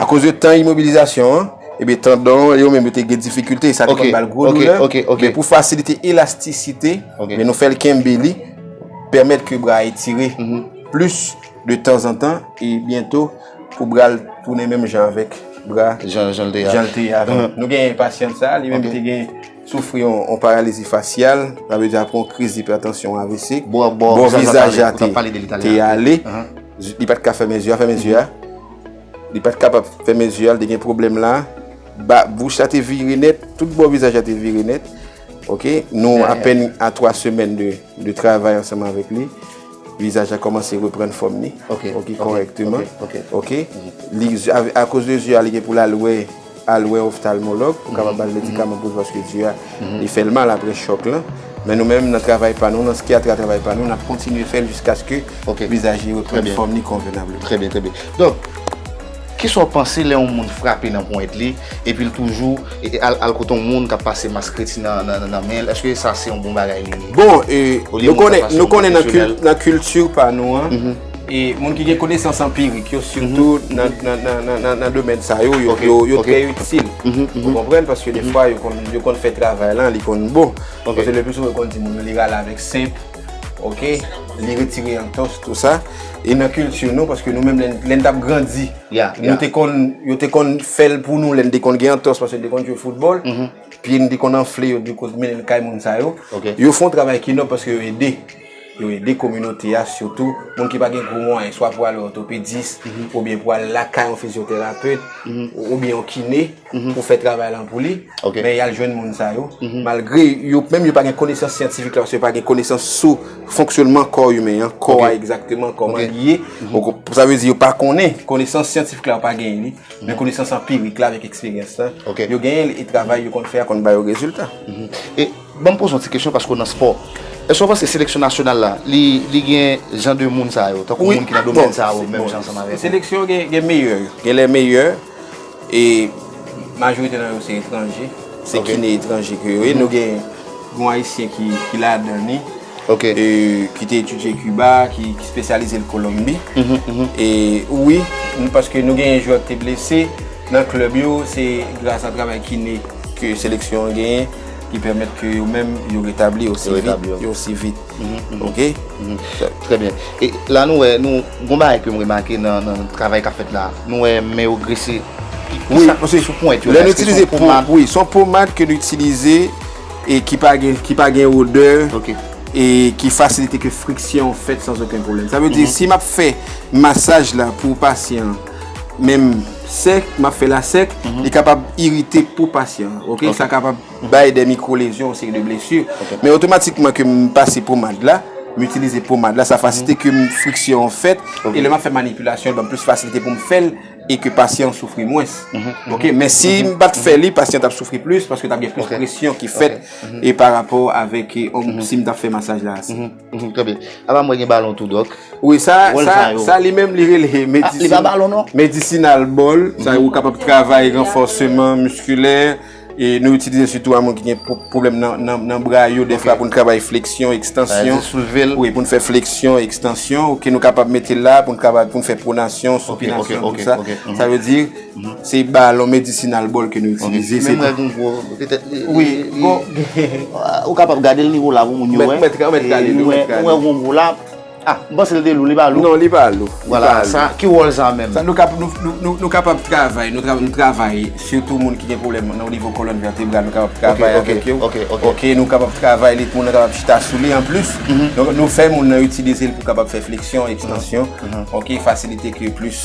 [SPEAKER 2] akoz de tan imobilizasyon an, ebe tandon yo menm yo te gen difikilte, e sa te konn bal gwo doulè, men pou fasilite elastisite, men nou fèl kenbe li, pèmèt ke bra a etire, plis de tanzantan, e byento pou bra l tounen menm jan avèk bra, jan l te avan. Nou gen yon pasyant sa, li menm te gen. Soufri yon paralizi fasyal, sa vle di apre yon kriz ipètansyon, avc, bò vizaj a te ale, li pat ka fèmen zye a, fèmen zye a, li pat kapab fèmen zye a, li te gen pwoblèm la, bouch la te vire nèt, tout bò vizaj la te vire nèt, ok, nou apèn a 3 semèn de travay ansanman avèk li, vizaj la kòmanse reprann fòm li, ok, kòrèkteman, ok, akouz de zye a li gen pou l al wè. Al wè oftalmològ pou kapab bal medikaman pou l paske zye a li fè l mal aprè chòk lan. Men nou menm nan travay pa nou, nan skyatra travay pa nou, n ap kontinye fè l jiskaske vizaj li reprann fòm li konvenableman. Trè byen, trè byen. Donk,
[SPEAKER 1] kisa w panse lè yon moun frape nan ponyèt li epi l toujou al kote yon moun k ap pase mas kredi nan men l? Èske sa se yon bon bagay li ye? Bon,
[SPEAKER 2] nou konnen nan kilti pa nou an. E moun ki gen konesans anpirik yo, sitou nan domèn sa yo, yo trè itil. Ou konprann? Paske defwa, yo konn fè travay lan, li konn bon. Paske le pli souvan, yo konn di moun yo li rale avèk senp, ok? Li retire antòs, tou sa. E nan kilti nou, paske nou menm, lè n t ap grandi, yo te konn, yo te konn fè l pou nou lè n te konn gen antòs, paske n te konn jwe foutbòl. Pye n te konn anfle yo, di kouz mennen l kay moun sa yo. Yo fè yon travay ki nòb paske yo ede. Yo ede kominote a, sitou moun ki pa gen gwo mwayen, swa pou al wè òtopedis, oubyen pou al lakay yon fizyoterapet, oubyen yon kine, pou fè travay lan pou li, men y al jwenn moun sa yo, malgre yo menm yo pa gen konesans syantifik la, paske yo pa gen konesans sou fonksyònman kò imen an, kò a egzakteman, kòman li ye, sa vle di yo pa konnen, konesans syantifik la yo pa genyen li, men konesans anpirik la avèk eksperyans la, yo genyen li, e travay yo konn fè a konn ba yo rezilta.
[SPEAKER 1] Banm poze yon ti kesyon paske w nan spò. Èske w panse seleksyon nasyonal la li gen jan de moun sa yo? Tankou moun ki nan domèn sa yo menm jan ansanm avèk ou? Seleksyon gen
[SPEAKER 2] meyè yo. Gen lè meyè e majorite nan yo se etranje. Se kine etranje ke yo ye. Nou gen yon ayisyen ki ladan li. ki te etidye Kiba, ki spesyalize l Kolonbi. E wi, paske nou genyen jwè ki te blese nan klèb yo, se gras a travay kine ke seleksyon an genyen ki pèmèt ke yo menm yo retabli yo osi vit. Ok? Trè
[SPEAKER 1] byen. E la nou wè, nou gon bagay ke m remake nan travay k ap fèt la. Nou wè men yo grese. Wi.
[SPEAKER 2] Sou pwent yo. Lè nou itilize pwent. Wi. Son pomad ke nou itilize. E ki pa gen, ki pa gen odè. Ok. E ki fasilite ke friksyon fèt san oken pwoblèm. Sa vle di si map fè masaj la pou pasyan an, menm sèk, map fè la sèk, li kapab irite po pasyan an. Ok. Sa kapab bay de mikwo lezyon, yon seri de blesu. Ok. Men otomatikman kem pase pomad la, m itilize pomad la, sa fasilite kem friksyon an fèt. Ok. E lè map fè manipilasyon l banm plis fasilite poum fèl. e ke pasyan an soufri mwens. Ok, men si m pa t fè li, pasyan t ap soufri plis, paske t ap gen plis presyon ki fèt e pa rapò avèk si m ta fè masaj la ase. Trè byen.
[SPEAKER 1] Apa m wè gen balon tou, dòk. Wi, sa, sa,
[SPEAKER 2] sa li menm li rele medisina. Li pa balon non. Medisinal ball, sa yo kapab travay ranfòseman miskilè. E nou itilize sitou a moun ki gen pwoblèm nan bra yo defwa pou nou travay fleksyon, ekstansyon. Soulve l. Wi, pou nou fè fleksyon, ekstansyon. Ok, nou kapab mete l la pou nou travay, pou nou fè pwonasyon, sipinasyon, tout sa. Sa vle di, se balon medisinal bòl ke nou itilize. Menm lè gen gwo,
[SPEAKER 1] petèt li. Wi, bon. Ou kapab gade l nivo la pou moun yo wè. Ou mèt gade l, ou mèt gade l. Ou wè gen gwo la. Ah, m panse l te lou, li pa lou. Non, li pa lou. Vwala,
[SPEAKER 2] sa, ki wòl
[SPEAKER 1] sa menm? Sa nou kap, nou, nou, nou,
[SPEAKER 2] nou kapab travay, nou travay, nou travay, sitou moun ki gen pwoblèm nan o nivo kolòn vètebral, nou kapab travay avèk yo. Ok, ok, ok. Ok, nou kapab travay li, moun nan kapab chita sou li. Anplis, nou fè moun nan itilize l pou kapab fè fleksyon, ekstansyon. Ok, fasilite ke plis,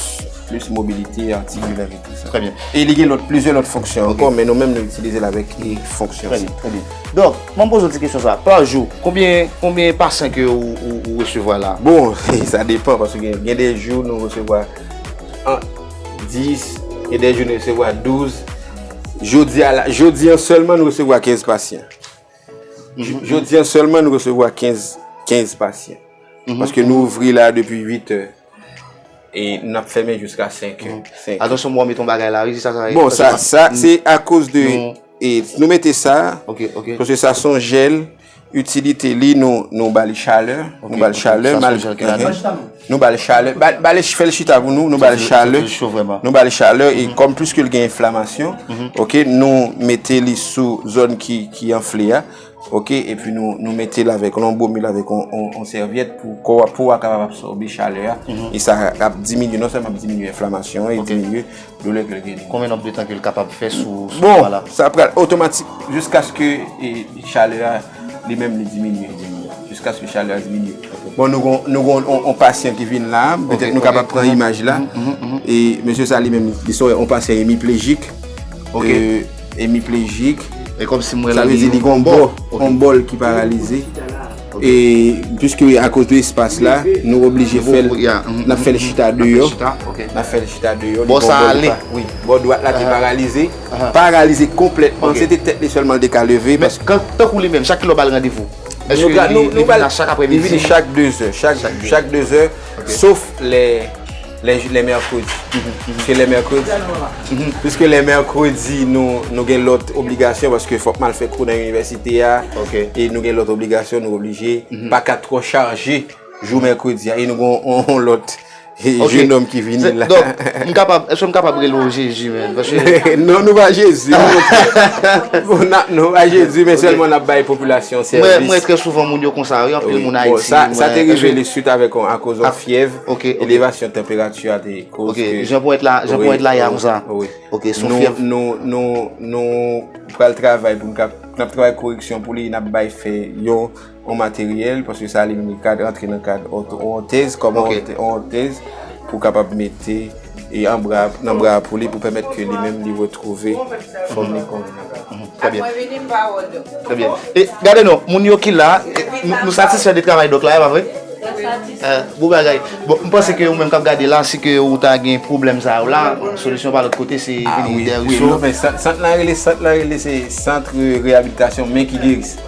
[SPEAKER 2] plis mobilite atikilè e tout sa. Trè byen. E li gen lòt,
[SPEAKER 1] plizyè
[SPEAKER 2] lòt fonksyon ankò, men nou menm nou itilize l avèk fonksyon sa. Trè byen, trè byen.
[SPEAKER 1] Donk, M'en poze w ti kesyon sa, pa jou konbyen konbyen pasyan ke ou resevwa la? Bon sa depan
[SPEAKER 2] paske gen gen de jou nou resevwa ant 10 gen de jou nou resevwa 12 jodi a la jodi an sèlman nou resevwa 15 pasyan jodi an sèlman nou resevwa 15 15 pasyan paske nou ouvri la depi 8 è e nap fèmen jiska 5 è atensyon m wè w met yon bagay
[SPEAKER 1] la wi bon sa sa
[SPEAKER 2] se akoz de E nou mete sa, paske sa son jèl, itilite li nou bali chalè, nou bali chalè, nou bali chalè, bali fèl chita pou nou, nou bali chalè, nou bali chalè, e kom pliske li gen enflamasyon, nou mete li sou zòn ki anfle a. Ok epi nou metel avèk lon bomil avèk yon sèvyèt pou kò wap pou wap kapab absòbe chalè a e sa ap diminye non sèlman ap diminye enflamasyon e diminye doulè ke l genyen. Konbyen nonb de tan ke l kapab
[SPEAKER 1] fè sou kò a la? Bon sa pral
[SPEAKER 2] otomatik jiskaske chalè a li menm li diminye jiskaske chalè a diminye. Bon nou gon yon pasyan ki vin la petèt nou kapab pran imaj la e mesye sa li menm li se yon pasyan emiplejik. Hemiplegic. E kom si m wè la. Sa vle
[SPEAKER 1] di li gon bò.
[SPEAKER 2] Yon bò l ki paralize. E pwiske a koz de espas la, nou oblije fè l. N ap fè l chita deyò. N ap fè l chita deyò. Bò sa ale.
[SPEAKER 1] Bò dwat la
[SPEAKER 2] te paralize. Paralize konpletman. Se te tèt li sèlman l te ka leve. Men tan kou li
[SPEAKER 1] menm, chak
[SPEAKER 2] ki
[SPEAKER 1] lè w ba l randevou. Eske
[SPEAKER 2] li vini chak apremidi? Li vini chak 2 zè. Chak 2 zè. Sof lè. Lè jou lè mèkredi. Piske lè mèkredi. Piske lè mèkredi nou gen lòt obligasyon paske fòk mal fè kou nan inivèsite a. Ok. E nou gen lòt obligasyon nou oblije. Pa ka twò chaje jou mèkredi a. E nou gen yon lòt jenòm ki vini la. Ok. Donk, m kapab,
[SPEAKER 1] èske m kapab rele w Jezi menm? Paske. Non, nou
[SPEAKER 2] pa Jezi. Nou pa Jezi men sèlman n ap bay popilasyon sèvis. Mwen wè trè souvan
[SPEAKER 1] moun yo konsa wi. Anpil moun Ayiti. Sa
[SPEAKER 2] te revele swit avèk yon akoz yon fyèv. Ok. Elevasyon tanperati a te koz ke. Ok. Jan ponyèt la, jan
[SPEAKER 1] ponyèt la ya konsa. Wi. Ok. Son fyèv.
[SPEAKER 2] Nou, nou, nou pral travay pou nou ka, n ap travay koreksyon pou li, n ap bay fè yon, yon materyèl, paske sa li menm li kad rantre nan kad yon, yon tèz, kòman yon, yon tèz pou kapab mete. e an bra nan bra pou li pou pèmèt ke li menm li retwouve fòm li kon menm avan. Trè byen. Apre
[SPEAKER 1] vini pawòl doktè. Trè byen. E gade non, moun yo ki la, nou satisfè de travay dòk la, e pa vre? Mwen satisfè. Bon bagay. Bon, m panse ke ou menm k ap gade la, si ke ou ta gen pwoblèm sa yo la, solisyon pa lòt kote se vini dèyè Richo. A wi, wi.
[SPEAKER 2] Sant la rele, sant la rele se Centre Réhabilitation Mains qui Guérissent.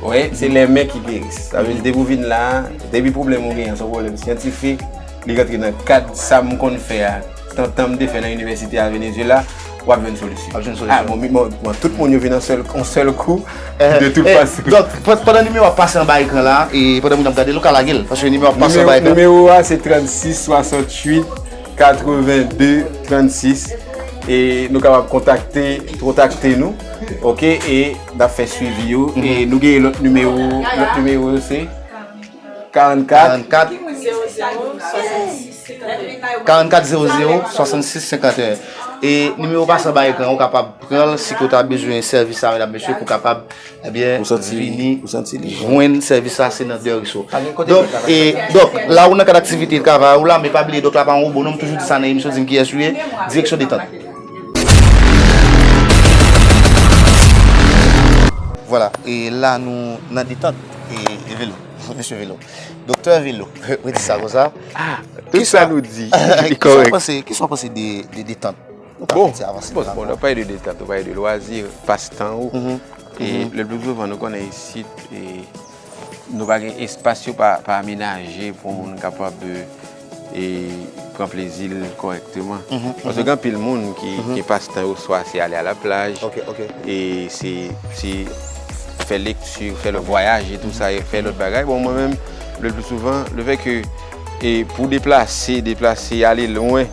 [SPEAKER 2] Wè, se les mains qui guérissent. Sa vle di depi ou vin la, depi pwoblèm ou gen an, se yon pwoblèm syantifik. Li rantre nan kad sa m konn fè a, tantan m te fè nan inivèsite a Venezuela, w ap jwenn solisyon. Wap jwenn solisyon. A bon, bon tout moun yo vin an sèl, an sèl kou, de tout fason. Donk, pandan nimewo
[SPEAKER 1] a ap pase anba ekran la, e pandan moun ap gade l, ou ka lage l, paske nimewo a ap pase anba ekran. Nimewo a se 36 68 82 36,
[SPEAKER 2] e nou kapab kontakte, kontakte nou, ok, e n ap fè swivi yo, e nou gen lòt nimewo, lòt nimewo yo se? 44 44 00 66 51
[SPEAKER 1] E nimewo pa san ba ekran ou kapab pran l si ke ou ta bezwen sèvis sa mèdam mesye pou kapab ebyen vini jwenn sèvis sa se nan Deriso. Dòk e dòk la ou nan kad aktivite travay ou la men pa bliye dòk la pa yon wobo non m toujou di sa nan emisyon di m kiyès ou ye direksyon detant. Vwala e la nou nan detant. E velo, misye velo. Doktè velo, mwen di sa kon sa. Ah, tout sa
[SPEAKER 2] nou di, li korek. Ki sa
[SPEAKER 1] w panse de detant? Bon,
[SPEAKER 2] bon, bon, nou pale de detant, nou pale de lwazi, pas tan ou. E le plus souvent, nou konnen isi, nou pa gen espas yo pa amenaje pou moun kapab. e pran plezi l kòrèkteman. Paske gen anpil moun ki pastan yo swa se ale a la plaj, e se ti fè lekti, fè lòt vwayaje tou sa, fè lòt bagay. Bon mwen menm le pli souvan le fè ke pou deplase, deplase ale lwen,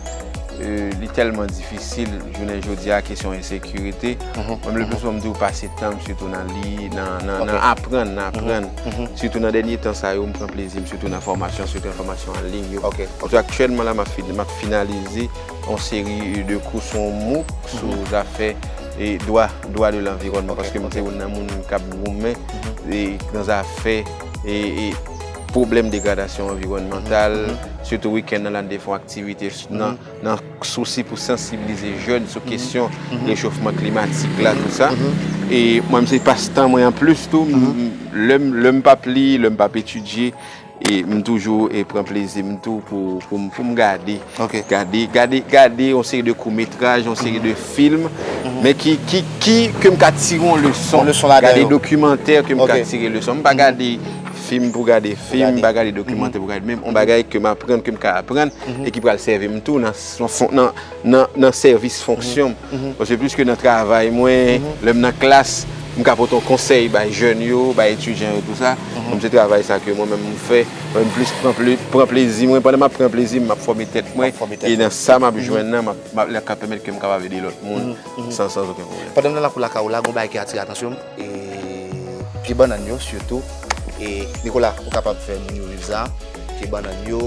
[SPEAKER 2] li tèlman difisil jounen jodi a kesyon ensekirite. Mwen menm le pli souvan m di ou pase tan m sitou nan li, nan aprann, nan aprann. Sitou nan dènye tan sa yo, m pran plezi m sitou nan fòmasyon, sitou nan fòmasyon an liy yo. Sitou aktyèlman la, m ap finalize yon seri de kou sou yon MOOC sou zafè dwa, dwa de lanviwònman. Paske m se youn nan moun k ap goumen nan zafè pwoblèm degradasyon anviwònmantal. Sitou wikenn nan, m ap fè yon aktivite nan. Nan sousi pou sansibilize jèn sou kesyon rechofman klimatik la tout sa. E mwen menm se pas tan mwen an plis tou lè m pap li, lè m pap etidye m toujou pran plezi m tou pou m gade. Gade yon seri de kou metraj, yon seri de film men ki ke m ka tire yon leson. Gade dokimantè ke m ka tire leson. M pa gade. Fim pou gade, fim pa gade dokimantè pou gade men yon bagay ke m aprann, ke m ka aprann e ki pral sèvi m tou nan sèvis fonksyon m. Paske plis ke nan travay mwen, lè m nan klas, m ka pote yon konsèy bay jèn yo, bay etidyan yo tout sa. Kòm se travay sa ke mwen menm m fè, m plis pran plezi mwen. Pandan m ap pran plezi m, m ap fòme tèt mwen e nan sa m ap jwenn nan, lè k ap pèmèt ke m kapab ede lòt moun san okenn pwoblèm. Pandan m nan lakou lakay ou la, gen yon
[SPEAKER 1] bagay ki atire atansyon m. E pye bannann yo sitou e Nikola ou kapab fè moun yo viv sa pye bannann yo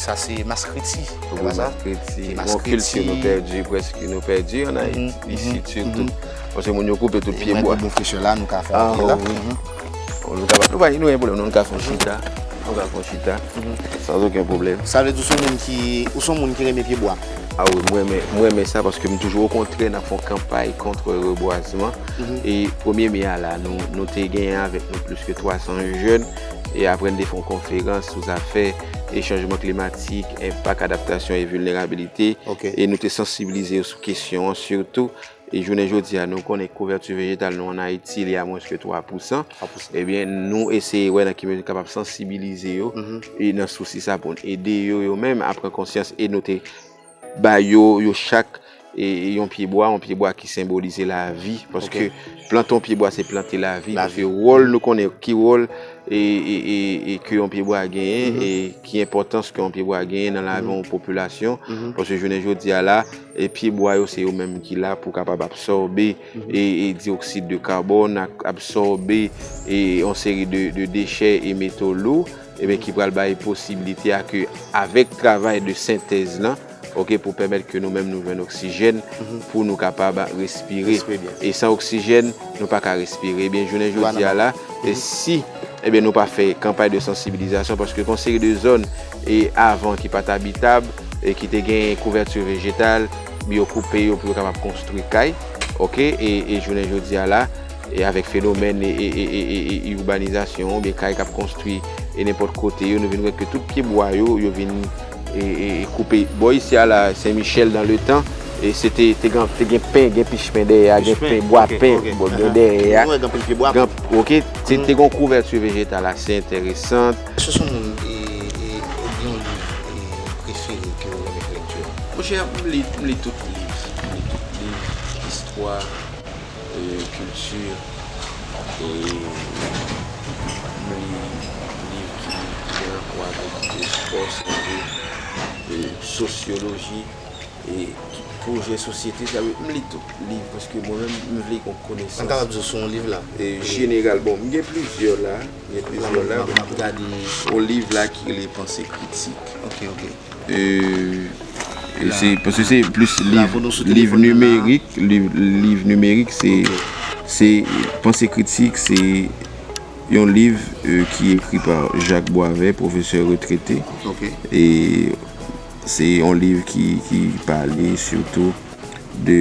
[SPEAKER 1] sa se maskriti se pa sa? Maskriti yon kilti
[SPEAKER 2] nou pèdi prèske nou pèdi an Ayiti isit sitou paske moun yo koupe tout pye bwa nou pa gen pwoblèm non nou ka fè yon chita nou ka fè yon chita san okenn pwoblèm Sa vle di ou son moun ki
[SPEAKER 1] ou son moun ki renmen pye bwa? A wi mwen
[SPEAKER 2] renmen sa paske m toujou okontrè n ap fè yon kanpay kontre rebwazman E premye me a la, nou te genyen avèk nou plis ke 300 jèn, e apre nou te fè yon konferans sou zafè e chanjman klimatik, enpak adaptasyon e vilnerabilite, e nou te sansibilize yo sou kesyon an, sitou, e jounen jodi a nou konnen kouvèti vejetal nou an Ayiti li a mwens ke 3 pousan, e byen nou eseye wè nan ki mezi nou kapab sansibilize yo, e nan sousi sa pou nou ede yo yo menm a pran konsyans, e nou te. Ba yo, yo chak yon pyebwa, yon pyebwa ki senbolize lavi, paske plante yon pyebwa se plante lavi, paske wòl nou konnen, ki wòl ke yon pyebwa genyen, e ki enpòtans ke yon pyebwa genyen nan lavi yon popilasyon, paske jounen jodi a la, pyebwa yo se yo menm ki la pou kapab absòbe dioxyde de carbone, absòbe yon seri de dechè e meto lou. Ebyen ki pral bay posibilite a ke avèk travay de sentèz lan ok pou pèmèt ke nou menm nou jwenn oksijèn pou nou kapab respire e san oksijèn nou pa ka respire ebyen jounen jodi a la si ebyen nou pa fè kanpay de sansibilizasyon paske gon seri de zòn e avan ki pat abitab e ki te gen kouvèti vejetal yo koupe yo pou yo kapab konstri kay ok e jounen jodi a la. E avèk fenomèn urbanizasyon oubyen kay kap konstwi e nenpòt kote yo nou vin wè ke tout pye bwa yo yo vin koupe. Bò isi a la Sen Michèl dan le tan e se te te gan te gen pen gen pich pen dèyè a gen pen bwa pen bò gen dèyè a gen anpil pye bwa pen ok se te gon kouvèti vejetal ase enteresant. Èske son moun
[SPEAKER 1] e e ou gen yon liv e prefere
[SPEAKER 2] ke ou renmen
[SPEAKER 1] fè lekti a?
[SPEAKER 2] Monchè
[SPEAKER 1] m li
[SPEAKER 2] m li tout
[SPEAKER 1] liv
[SPEAKER 2] m li tout
[SPEAKER 1] liv
[SPEAKER 2] istwa. Kilti e li liv ki gen rapò avèk espò, sante, sosyoloji e ki pwojè sosyete. Sa vle di m li tout liv paske mwen menm m vle gen konesans. Mwen kapab di w sou yon liv la.
[SPEAKER 1] Jeneral, bon,
[SPEAKER 2] m gen plizyè la. M gen plizyè la. M ap gade yon liv la ki rele Panse Kritik. Ok, ok. Paske se plis liv nimerik, liv nimerik se panse kritik, se yon liv ki ekri pa Jacques Boisvert, profesè retrete. E se yon liv ki pale sitou de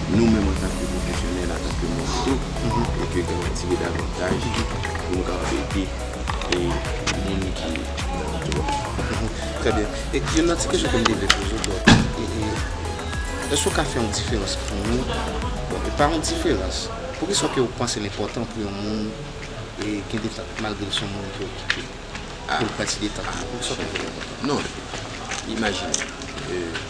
[SPEAKER 2] nou menm antanke pwofesyonèl, antanke moun tou, e ke gen yon ti bèd avantaj pou nou kapab ede e moun ki nan bidon. Trè
[SPEAKER 1] byen. E yon lòt ti kesyon ke m te vle poze w, bon, e, èske w ka fè yon diferans pou nou, bon, e pa yon diferans, pou ki sa w ke w panse l enpòtan pou yon moun e gen detant malgre l se yon moun ki okipe, pou l pran ti detant li? Pou ki sa w panse l enpòtan? Non,
[SPEAKER 2] imajine, e.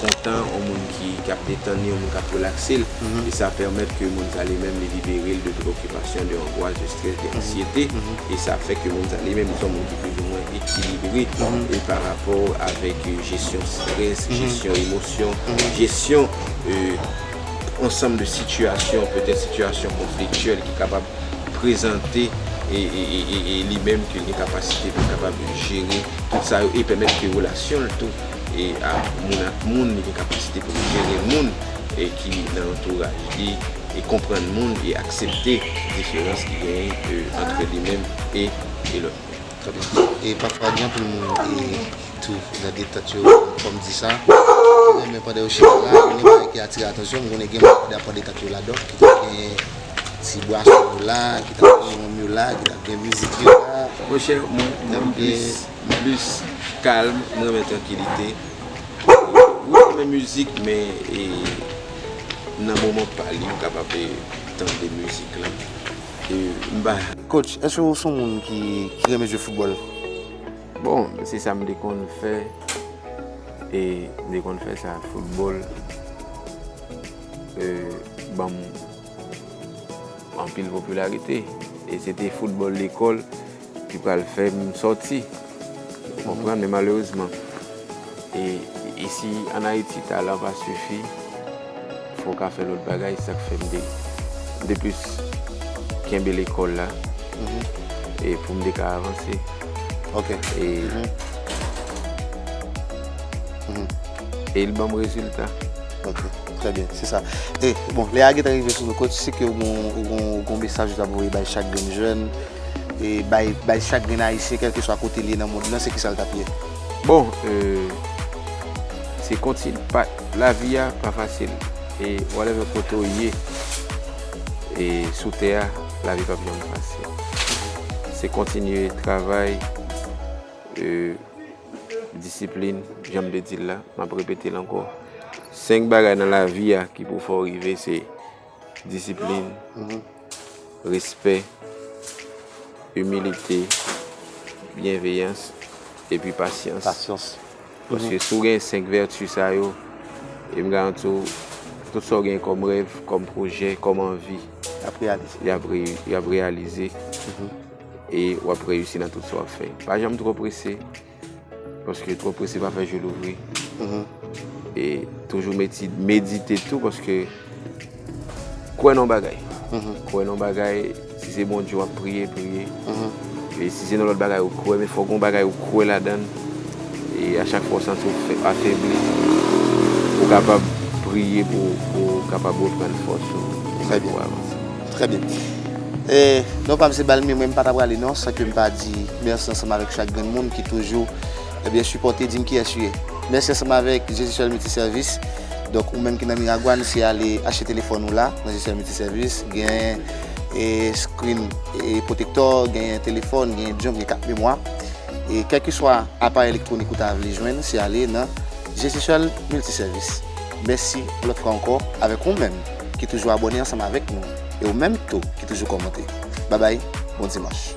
[SPEAKER 2] kontan, yon moun ki ap detann li, yon moun k ap relakse l, e sa pèmèt ke moun sa li menm li libere l de preokipasyon, de angwas, de strès, de ansyete, e sa ap fè ke moun sa li menm li son moun ki plizoumwen ekilibre e pa rapò avèk jesyon strès, jesyon emosyon, jesyon ansanm de sitiyasyon, petèt sitiyasyon konfliktyèl ki kapab prezante e li menm ke l gen kapasite pou l kapab jere tout sa yo e pèmèt ke relasyon l tou. e ak moun ak moun, li gen kapasite pou l jere moun ki nan antouraj li, e konprann moun e aksepte diferans ki genyen antre li menm e lòt moun.
[SPEAKER 1] E pafwa gen anpil moun tou nan detant yo, fò m di sa, ki renmen pandan yo chita la, gen yon bagay ki atire atansyon m, m konnen gen moun ki ta pran detant yo ladan, ki ta gen ti bwason yo la, ki ta gen wonm yo la, ki ta gen mizik yo la. Monchè, mwen, mwen
[SPEAKER 2] plis. M plis kalm, m renmen trankilite. Mwen renmen mizik men e nan moman pa li m kapab tande mizik lan e m pa. Coach, èske ou
[SPEAKER 1] s on moun ki renmen jwe foutbòl? Bon,
[SPEAKER 2] se sa m te konn fè e m te konn fè sa. Foutbòl ban m anpil popilarite e se te foutbòl lekòl. Ki pral fè m sòti. Ou konprann? Men malerezman, e isi an Ayiti talan pa sifi, fò w ka fè lòt bagay. Sa k fè m te m te plis kenbe lekòl la e pou m te ka avanse. Ok. E e l ban m rezilta. Ok.
[SPEAKER 1] Trè byen. Se sa. E bon, lè a gentan rive sou nou, kòt si ke ou gen yon mesaj ou ta vle voye bay chak grenn jèn? e bay bay chak grenn ayisyen kelkeswa kote li ye nan mond lan se kisa l tap ye? Bon
[SPEAKER 2] se kontin pat lavi a pa fasil e whatever kote w ye e sou tè a lavi pap janm fasil se kontinye travay e disiplin janm te di l la map repete l ankò 5 bagay nan lavi a ki pou fè w rive se Disiplin, respè, imilite, byenveyans, epi pasyans. Pasyans. Paske si w gen 5 vèti sa yo, e m garanti w, tout sa w gen kòm rèv, kòm pwojè, kòm anvi, y ap reyalize e w ap reyisi nan tout sa w ap fè. Pa janm twò prese. Paske twò prese pa fè je louvri. E toujou medite tou paske kwè nan bagay. Kwè nan bagay, si se Bondye wap priye, priye. E si se nan lòt bagay ou kwè, men fò gon bagay ou kwè ladann. E a chak fò ou santi ou afebli, ou kapab priye pou ou kapab reprann fòs ou. Trè byen.
[SPEAKER 1] Trè byen. E non pa m se Balmir men m pa ta prale non san ke m pa di mèsi ansanm avèk chak grenn moun ki toujou ebyen sipòte di m kiyès u ye. Mèsi ansanm avèk Jesisèl Miltisèvis. Donk ou menm ki nan Miragwàn se ale achte telefòn ou la nan Jesisèl Miltisèvis. Genyen e screen pwotektò, genyen telefòn, genyen jump, genyen kat memwa. E kèlkeswa aparèy elektwonik ou ta vle jwenn se ale nan Jesisèl Miltisèvis. Mèsi yon lòt fwa ankò avèk ou menm. ki toujou abòne ansanm avèk nou e ou menm tou ki toujou kòmante. Babay, bon dimanch!